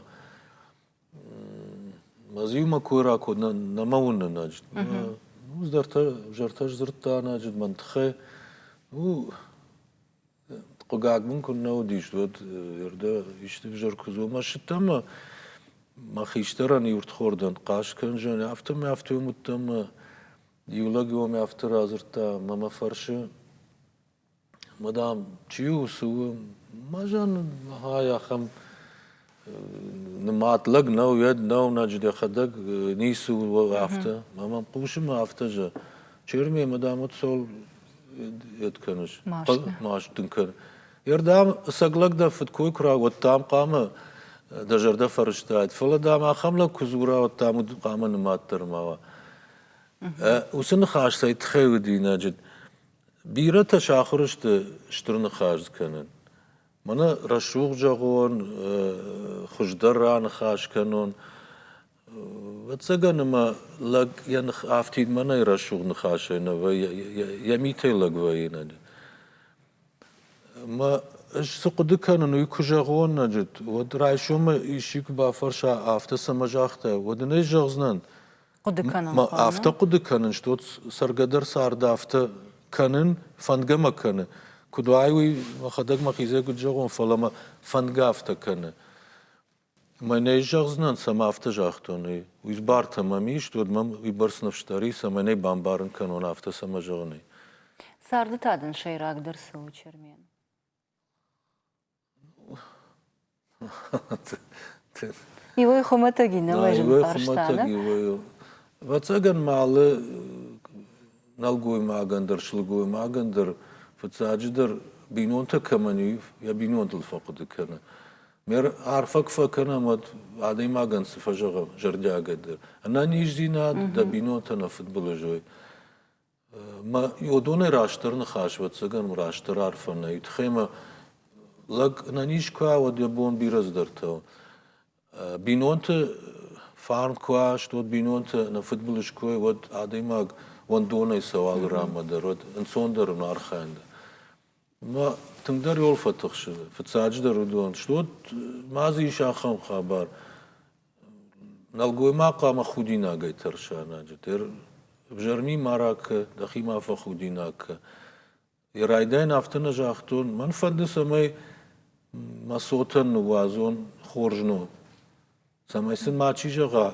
мӕ дзы иумӕ кой ракодта нӕма уынын ноджы. Уым зӕрдӕ зӕрдӕ сдзырдта ноджы мӕн тыххӕй. У хъугаг мын куыннӕ уыдис, уӕд уӕрдӕ исты ӕвзӕр куы дзома ссыдтӕн ӕмӕ мӕ хистӕрӕн иу ртхордӕн хъас кӕндзӕн, афтӕ мӕ афтӕ уым уыдтӕн ӕмӕ Иу лӕг уӕм афтӕ радзырдта ӕмӕ мӕ фӕрсы, мадам, чи у, цы у? Мӕ зӕн ай ахӕм нымад лӕг нӕу, уӕд нӕу, ноджы дӕхӕдӕг ницы у афтӕ. Мӕ мӕм хъусы мӕ афтӕ зӕгъ, Черме, мадам, вот сол это кӕныс? Маст. Маст дын кӕн. Ердам ӕцӕг лӕг дӕ фыдкой куы рауӕд, дам хъуамӕ дӕ зӕрдӕ фӕрыстаид. Фӕлӕ, дам, ахӕм лӕг куы дзура, уӕд, дам, уыд хъуамӕ нымад дӕр ма уа. Уыцы ныхас цӕй тыххӕй уыд инаджы? Бирӕтӕ сахуыр сты стыр ныхас кӕнын. Мӕнӕ рӕсугъд зӕгъон, хуыздӕр раныхас кӕнон. Ӕвӕццӕгӕн ӕмӕ лӕг йӕ ных афтидмӕ нӕй рӕсугъд ныхасӕй нӕ вӕййы, йӕ митӕй лӕг вӕййы инаджы. Ӕмӕ ӕз цы хъуыды кӕнын, уый куы зӕгъон инаджы, уӕд райсомӕй исчи куы бафӕрса, афтӕ цӕмӕ загътай, уӕд ын ӕй зӕгъдзынӕн. Хъуыды кӕнын. Ма афтӕ хъуыды кӕнын, стот цӕргӕдӕр цард афтӕ кӕнын, фӕнгӕ мӕ кӕны. Куыд уай, уый мӕхӕдӕг мӕхизӕй куыд зӕгъон, фӕлӕ мӕ фӕнгӕ афтӕ кӕны. Мӕнӕ зӕгъдзынӕн, цӕмӕ афтӕ загътон, уый. Уый бартӕ мӕм ис, уӕд мӕм уый бӕрц ныфсдӕр ис, ӕмӕ нӕ бамбарын кӕнон афтӕ, цӕмӕ зӕгъын, уый. Царды та дын сӕйрагдӕр цы у, Чермен? Иуӕй хуымӕтӕг, иннӕмӕй зын фарста, нӕ? Ӕвӕццӕгӕн ма алы нӕлгоймагӕн дӕр, сылгоймагӕн дӕр, фыццаджыдӕр, бинонтӕ кӕмӕн и, йӕ бинонтыл фӕхъуыды кӕны. Ме арфӕ куы фӕкӕнӕм, уӕд адӕймагӕн цы фӕзӕгъӕм зӕрдиагӕй дӕр. Ӕнӕниздзинад дӕ бинонтӕн ӕфыдбылыз уой. Мӕ уодонӕй растдӕр ныхас, ӕвӕццӕгӕн, растдӕр арфӕ нӕй. Тхемӕ лӕг ӕнӕниз куы уа, уӕд йӕ бон бирӕ цыдӕртӕ у. Бинонты фарн куы уаст, уӕд бинонты ӕнӕ фыдбылыз куы уой, уӕд адӕймаг уӕндонӕй цӕуал рамӕ дӕр, уӕд ӕнцондӕр у, архайын дӕр. Ӕмӕ тынгдӕр иол фӕтыхсы. Фыццаджыдӕр уыдон стут, ма дзы ис ахӕм хабар, нӕлгоймаг хъуамӕ худинагӕй тӕрса ӕнӕджы. Де взӕрми ма ракӕ, дӕхи ма фӕхудинаг кӕ. Йӕ райдайӕн афтӕ нӕ загътон, мӕн фӕнды, цӕмӕй мӕ цотӕн ныууадзон хорз ном. Цӕмӕй сын мачи зӕгъа,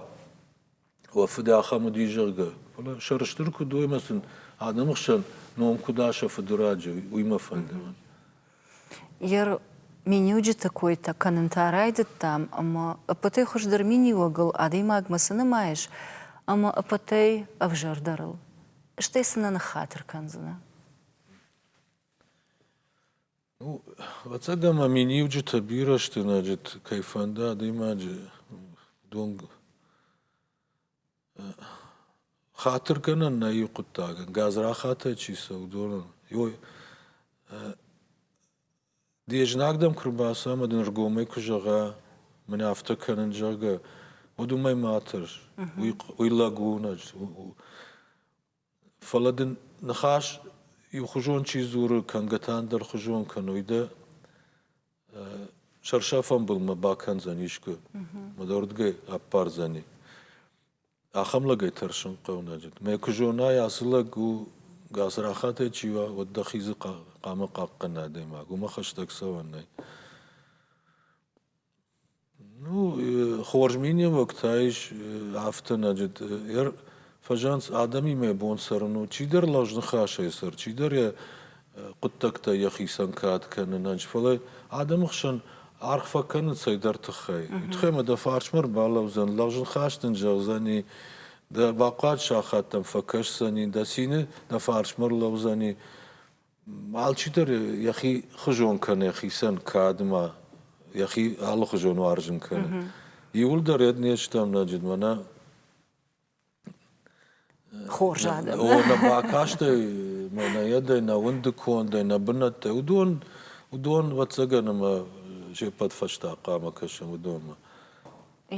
уӕ фыд ахӕм уыди, зӕгъгӕ. Фӕлӕ сӕрыстыр куыд у ӕмӕ сын адӕмы хсӕн ном куыд аса фыды раджы, уый мӕ фӕнды. Ер миниуджыты койтӕ кӕнын та райдыдтам ӕмӕ ӕппӕтӕй хуыздӕр миниуӕгыл адӕймагмӕ цы нымайыс ӕмӕ ӕппӕтӕй ӕвзӕрдӕрыл, стӕй цы нӕ ныххатыр кӕндзынӕ? Ну, ӕвӕццӕгӕн ма миниуджытӕ бирӕ сты кӕй фӕнды адӕймаджы дон хатыргӕнӕн нӕ иу хъуыддагӕн, гадзрахатӕй чи цӕуы доныл. Ой, де знаг дӕм куы рбацӕ ӕмӕ дын ргомӕй куы зӕгъа, мын афтӕ кӕнын, зӕгъгӕ, уӕд уымӕй ма тӕрс. Уый лӕг у, Фӕлӕ дын ныхас иухуызон чи дзуры, кӕнгӕ та ӕндӕр хуызон кӕной дӕ, сӕрсӕфӕнбылмӕ бакӕндзӕн искуы, мӕ дӕ уырдыгӕй ӕппардзӕни. Ахӕм лӕгӕй тӕрсын хъӕунаджы. Мӕ куы зонай, ацы лӕг у, гацрахатӕй чи уа, уӕд дӕхи дзы хъа- хъама хъахъхъӕн адӕймаг, уымӕ хӕстӕг цӕуӕн нӕй. Ну, хорз миниуӕгтӕ ис ӕфтынӕджы. Фӕзӕнц адӕмимӕ бон цӕрын у. Чидӕр лӕгъзныхасӕй цӕры, чидӕр йӕ хъуыддӕгтӕ йӕхицӕн кад кӕнынӕн. Фӕлӕ адӕмы хсӕн аргъ фӕкӕнын цӕйдӕр тыххӕй. Уый тыххӕй ӕмӕ дӕ фарсмӕ ӕрбалӕудзӕн, лӕгъзныхас дын зӕгъдзӕни, дӕ бахъуыд сахат дӕм фӕкӕсдзӕни, дӕ цины дӕ фарсмӕ ӕрлӕудзӕни. Алчидӕр йӕхи хуызон кӕны йӕхицӕн кадмӕ, йӕхи алыхуызон уарзын кӕны. Иууылдӕр этничты ӕмнӕджыд мӕнӕ хорз адӕм. О, нӕ бакастӕй мӕнӕйадӕй, нӕ уынды кондӕй, нӕ бынӕттӕй, уыдон, уыдон ӕвӕццӕгӕн ӕмӕ се ппӕт фӕстӕ хъуамӕ кӕсӕм уыдонмӕ.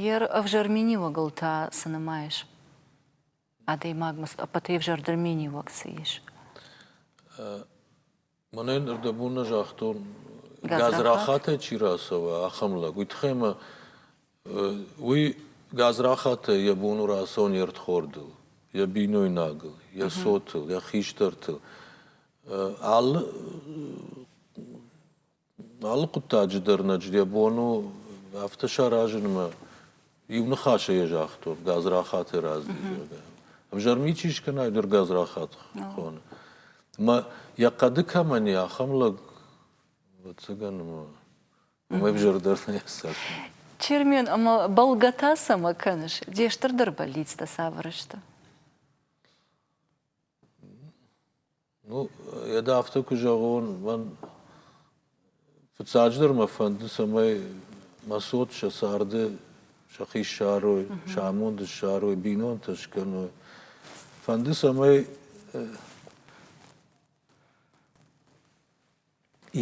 Йе рӕвзӕр миниуӕгыл та цы нымайыс? адӕймагмӕ цы ӕппӕтӕй ӕвзӕрдӕр миниуӕг цы ис? Мӕнӕн ӕрдӕбон нӕ загътон, газрахатӕй чи рацӕуа, ахӕм лӕг. Уый тыххӕй мӕ уый газрахатӕй йӕ бон у рацӕуын йе рдхордыл, йӕ бинойнагыл, йӕ цотыл, йӕ хистӕртыл. Алы Алы хъуыддаджы дӕр Надждӕ бон у афтӕ саразынмӕ, иу ныхасӕй йӕ загътон, гадзрахаты раздӕр, зӕгъгӕ. Ӕвзӕрмӕ ичи скӕна, ой дӕр гадзрахат хоны. Ӕмӕ йӕ хъӕды кӕмӕн и, ахӕм лӕг, ӕвӕццӕгӕн, уымӕй ӕвзӕрдӕр нӕ цӕф. Чермен, ӕмӕ бӕлгӕ та цӕмӕ кӕныс? Де стырдӕр бӕллицтӕ цавӕр сты? Ну, йӕдӕ афтӕ куы зӕгъон, мӕн фыццаджыдӕр мӕ фӕнды, цӕмӕй мӕ цот сӕ царды сӕхи ссарой, сӕ амонд ссарой, бинонтӕ скӕной. Фӕнды, цӕмӕй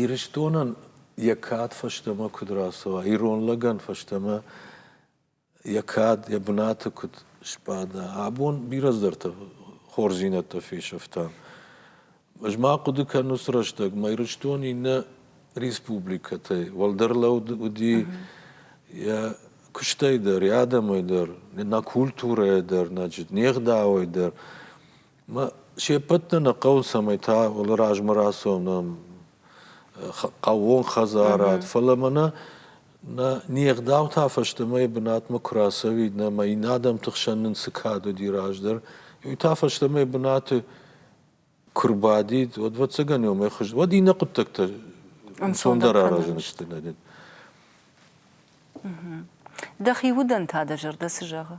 Ирыстонӕн йӕ кад фӕстӕмӕ куыд рацӕуа, ирон лӕгӕн фӕстӕмӕ йӕ кад, йӕ бынаты куыд сбада. Абон бирӕ цыдӕртӕ хорздзинӕдтӕ фесӕфтам. Ӕз ма хъуыды кӕну срӕстӕг, мӕ Ирыстон иннӕ республикӕтӕй уӕлдӕр лӕуд уыди йӕ куыстӕй дӕр, йӕ адӕмӕй дӕр, нӕ культурӕйӕ дӕр, значит, не гъдауӕй дӕр. се ппӕт нӕ нӕ хъӕуы, цӕмӕй та уалы размӕ рацӕуынӕн хъӕууон хӕдзарад, фӕлӕ мӕнӕ нӕ не гъдаутӕ фӕстӕмӕйы бынатмӕ куы рацӕуид, нӕ мӕ иннӕ адӕмты хсӕн нын цы кад уыди раздӕр, уый та фӕстӕмӕ бынаты куы рбадид, уӕд, ӕвӕццӕгӕн, уымӕй хуыз, уӕд иннӕ хъуыддӕгтӕ ӕнцондӕр аразӕн сты нӕ дын. Дӕхи удӕн та дӕ зӕрдӕ цы зӕгъы?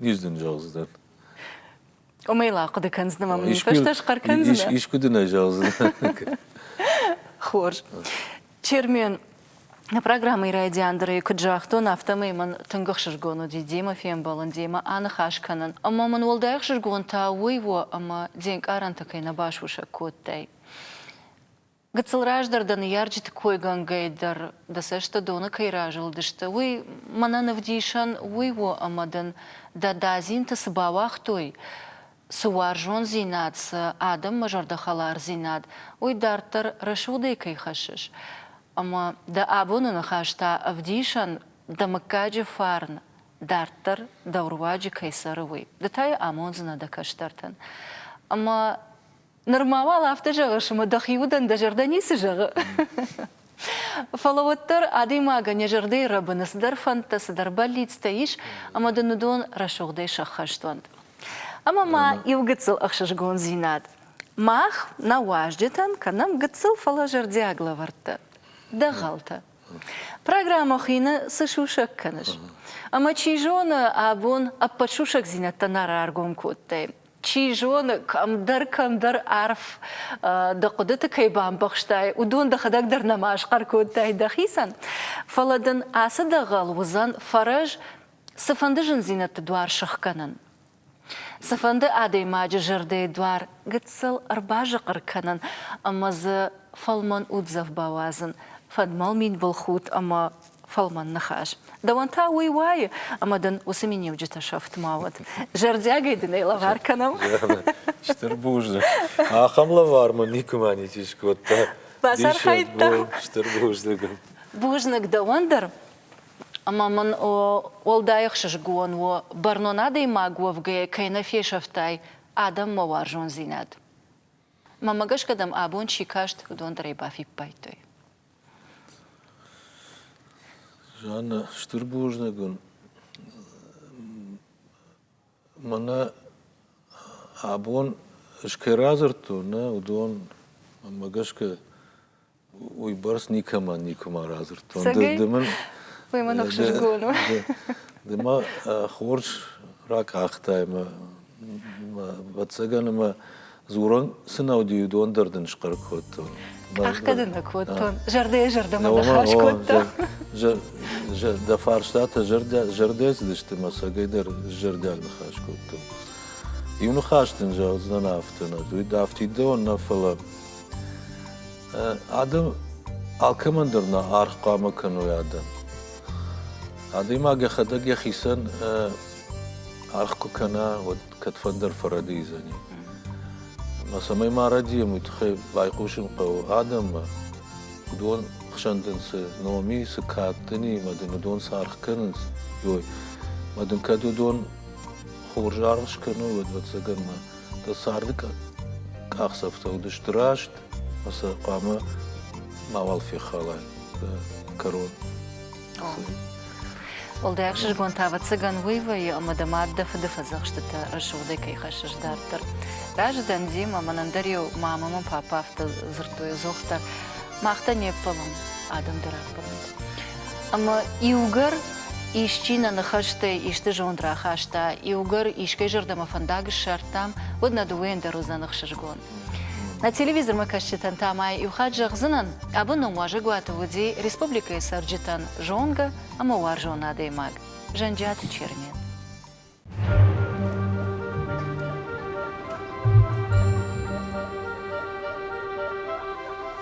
Низ дын зӕгъдзынӕн. Уымӕй ла хъуыды кӕндзынӕ мӕ фӕстӕ схъӕр кӕндзынӕ? Искуы дын ӕй зӕгъдзынӕ? Хорз. Чермен, Нӕ программӕйы райдиан дӕр ӕй куыд загътон, афтӕмӕй мӕн тынг ӕхсызгон уыди демӕ фембӕлын, демӕ аныхас кӕнын, ӕмӕ мын уӕлдай ӕхсызгон та уый у, ӕмӕ де нкъарӕнтӕ кӕй нӕ басусӕг кодтай. Гыццыл раздӕр дӕ ныййарджыты койгӕнгӕй дӕр дӕ цӕстӕ доны кӕй разылдысты, уый мӕнӕн ӕвдисӕн уый у, ӕмӕ дын дӕ дадзинты цы бауагътой, цы уарзондзинад, цы адӕммӕ зӕрдӕхӕлардзинад, уый дарддӕр рӕсугъдӕй кӕй хӕссыс. Ӕмӕ дӕ абоны ныхас та ӕвдисӕн, дӕ мыггаджы фарн дарддӕр дӕу руаджы кӕй цӕры, уый. Ды та йӕ амондзынӕ дӕ кӕстӕртӕн. Ӕмӕ Ныр ма уал афтӕ зӕгъыс, ӕмӕ дӕхи удӕн дӕ зӕрдӕ ницы зӕгъы. Фӕлӕ уӕддӕр адӕймагӕн йӕ зӕрдӕйы рӕбыны цыдӕр фӕндтӕ, цыдӕр бӕллицтӕ ис, ӕмӕ дын уыдон рӕсугъдӕй сӕххӕст уӕнт. Ӕмӕ ма иу гыццыл ӕхсызгондзинад. Мах, нӕ уазджытӕн, кӕнӕм гыццыл, фӕлӕ зӕрдиаг лӕвӕрттӕ, дӕгъӕлтӕ. Программӕ Хины цы сусӕг кӕныс? Ӕмӕ, чи зоны, абон ӕппӕт сусӕгдзинӕдтӕ нӕ раргом кодтай. Чи зоны, кӕмдӕр-кӕмдӕр арф дӕ хъуыдыты кӕй бамбӕхстай, уыдон дӕхӕдӕг дӕр нӕма схъӕр кодтай дӕхицӕн. Фӕлӕ дын ацы дӕгъӕл уыдзӕн фӕрӕз цыфӕнды зындзинӕдты дуар сыхгӕнын, цыфӕнды адӕймаджы зӕрдӕйы дуар гыццыл ӕрбазыхъыр кӕнын ӕмӕ дзы фӕлмӕн уддзӕф бауадзын, фӕдмӕлмин былхудт ӕмӕ фӕлмӕн ныхас. Дӕуӕн та уый уайы, ӕмӕ дын уыцы миниуджытӕ сӕфт ма уӕд. Зӕрдиагӕй дын ӕй лӕвар кӕнӕм. Стыр бузныг. Ахӕм лӕвар мын никуыма ничи скодта. Бацархайдта. Стыр бузныг. Бузныг дӕуӕн дӕр. Ӕмӕ мын уӕлдай ӕхсызгон у, бӕрнон адӕймаг уӕвгӕйӕ кӕй нӕ фесӕфтай адӕммӕ уарзондзинад. Мӕмӕ гӕсгӕ дӕм абон чи каст, уыдон дӕр ӕй бафиппайдтой. Жаннӕ, стыр бузныг уын. Мӕнӕ абон скӕй радзырдтон, нӕ уыдон, мӕнмӕ гӕсгӕ, уыйбӕрц никӕмӕн никуыма радзырдтон. Ды, ды мын... Уый мӕн ӕхсызгон у. Ды мӕ хорз ракъахтай мӕ Ӕвӕццӕгӕн ӕмӕ дзурын цы нау ди, уыдон дӕр дын схъӕр кодтон. Ӕхгӕд ын нӕ кодтон, зӕрдӕйӕ зӕрдӕмӕ ныхас кодта. Дӕ фарстатӕ зӕрдӕ цыдысты мӕ сӕгӕй дӕр зӕрдиаг ныхас кодтон. Иу ныхас дын зӕгъдзынӕн афтӕ нӕ, афтид дӕ нӕ, фӕлӕ адӕм алкӕмӕн дӕр нӕ аргъ хъуамӕ кӕной адӕм. Адӕймаг йӕхӕдӕг йӕхицӕн аргъ куы кӕна, уӕд кӕдфӕндӕр фӕрӕдийдзӕни. Ӕмӕ цӕмӕй ма рӕдийӕм, уый тыххӕй байхъусын хъӕуы адӕммӕ, уыдон хсӕн дын цы ном и, цы кад дын и, мӕ дын уыдон цы аргъ кӕнынц, ой, мӕ дын кӕд уыдон хорз аргъ скӕной, уӕд ӕвӕццӕгӕн мӕ дӕ царды къахдзӕфтӕ уыдысты раст, ӕмӕ сӕ хъуамӕ мауал фехалай дӕ кӕрон. Уӕлдай ӕхсызгон та ӕвӕццӕгӕн уый вӕййы, ӕмӕ дӕ мад дӕ фыды фӕдзӕхстытӕ рӕсугъдӕй кӕй хӕссыс дарддӕр. Разы дӕн Дима, мӕн ӕндӕр-иу мамӕ мӕ папа афтӕ дзырдтой, Зохтар, мах дӕ не ппӕлӕм, адӕм дӕр ӕппӕлынц. Ӕмӕ иугӕр исчи нӕ ныхӕстӕй исты зонд рахаста, иугӕр искӕй зӕрдӕмӕ фӕндаг ссардтам, уӕд нӕ дыууӕйӕн дӕр уыдзӕн ӕхсызгон. На телевизормӕ кӕсджытӕн та ма иу хатт зӕгъдзынӕн, абоны уазӕгуаты уыди республикӕйы цӕрджытӕн зонгӕ ӕмӕ уарзон адӕймаг Зӕнджиаты Чермен.